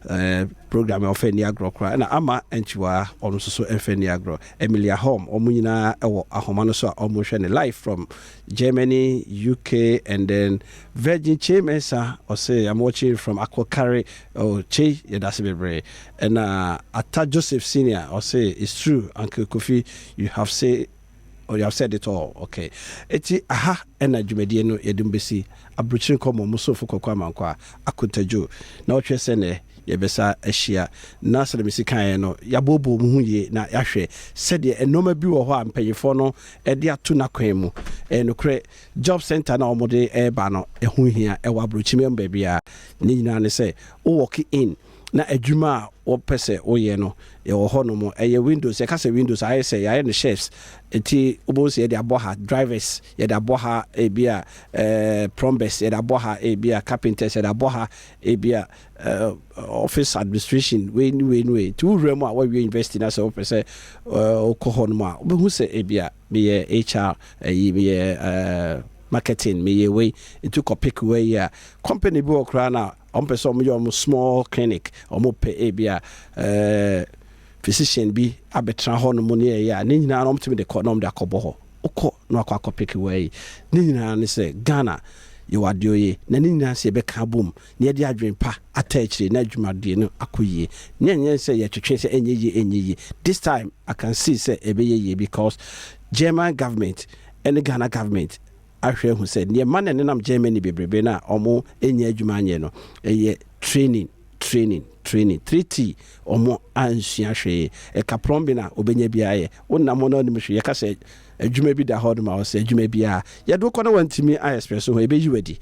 Eh, program a ɔfɛ ni agorɔ koraa ɛna ama ɛnkyiwaa ɔno nso so ɛnfɛ ni agorɔ Emilia Holm ɔmo nyinaa ɛwɔ ahoma no so a ɔmo hwɛ ne live from Germany UK and then Virgin Chei Mensa ɔse I'm watching from Akokare oh Chei yɛdase bebree ɛna Ata Joseph Senior ɔse it's true Uncle Kofi you have say Oh you have said it all okay enti aha ɛna dwumadie no yɛde mo bɛsi abrokyire nkɔmmɔ mo somfo Kwaku Amankwaa Akontadwo na ɔtwerɛ sɛ nɛ yɛbɛsa ahyia na sɛdeɛ mesi kaeɛ no yɛabooboo mo ho yie na yɛahwɛ sɛdeɛ nnoɔma bi wɔ hɔ a mpaninfoɔ no de ato n'akwan mu ɛyɛ nokorɛ job centre no a wɔde ɛreba no ɛho hia ɛwɔ abrokyire mu baabiara ne nyinaa ne sɛ wo walk in na adwuma a wɔpɛ sɛ woyɛ no yɛwɔ hɔnom. Ɛyɛ windows, yɛka sɛ windows a, ayɛ sɛ yɛayɛ no shelves. Nti wobɛhu sɛ yɛde abɔ ha drivers, yɛde abɔ ha ebia plumbers, yɛde abɔ ha ebia carpenters, yɛde abɔ ha ebia office administration, wei ne wei ne wei. Nti wowura mu a, woawie university na sɛ wopɛ sɛ wokɔ hɔnom a, wobɛhu sɛ ebia meyɛ HR, ayi meyɛ marketing, meyɛ wei. Nti wokɔ pick wei a, company bi wɔ koraa no a, Wɔn pɛ sɛ wɔn yɛ wɔn small clinic, wɔn pɛ ebia physician bi abɛtena hɔ nom ne ɛyɛ a, ne nyinaa na wɔn tumi de kɔ na wɔn de akɔbɔ hɔ. Wokɔ na wakɔ akɔ peke wɔ yi. Ne nyinaa ne sɛ Ghana yɛwɔ adeɛ oye na ne nyinaa sɛ yɛbɛka abom na yɛde adwene pa ata akyire na adwumadie no akɔ yie na ɛnyɛ sɛ yɛtwetwe sɛ ɛnyɛ yie ɛnyɛ yie. This time I can see sɛ ɛbɛyɛ yie because German government ɛne Ghana government ahwɛ ahu sɛ neɛ ɛma na ɛnenam Germany bebrebe no a wɔn nyɛ adwuma anyɛ no ɛyɛ training training training 3T wɔn ansua hwee ɛka plumbing a obɛnya bi ayɛ wonam hɔ na wonim hwee yɛka sɛ adwuma bi da hɔ no ma wɔ sɛ adwuma bi a yɛde wokɔ na wantumi a express ho ɛbɛyi wadi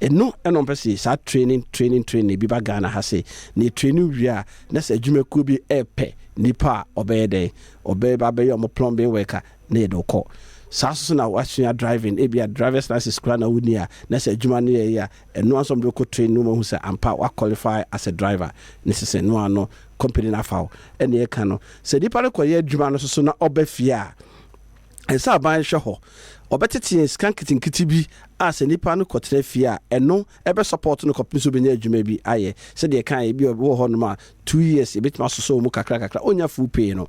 ɛno ɛna ɔmpɛ sɛ saa training training training bi ba Ghana ha sɛ ne training wie a na sɛ adwumakuo bi ɛpɛ nipa a ɔbɛyɛ dɛn ɔbɛba bɛyɛ ɔmo plumbing worker na yɛde wo kɔ. Saa nso so na woasua driving, ebia driver's license koraa na wonni a, na sɛ adwuma no yɛ ye a, ɛno ara nso wɔde wo kɔ training na wɔahu sɛ ampa wo qualify as a driver, na ɛsɛ sɛ ɛno ara no company no afa wo. Ɛnea ɛka no, sɛ nipa no kɔyɛ adwuma no nso so na ɔba fie a, ɛsɛ sɛ aban hwɛ hɔ. Wɔbɛtete yɛn sika nketenkete bi a sɛ nipa no kɔtena fie a, ɛno bɛ support no kɔpem sɛ obenya adwuma bi ayɛ. Sɛdeɛ yɛkaeɛ, ebi wɔ hɔnom a two years yɛbɛtumi asosɔ wɔn mu kakrakakra, ɔnnya full pay no.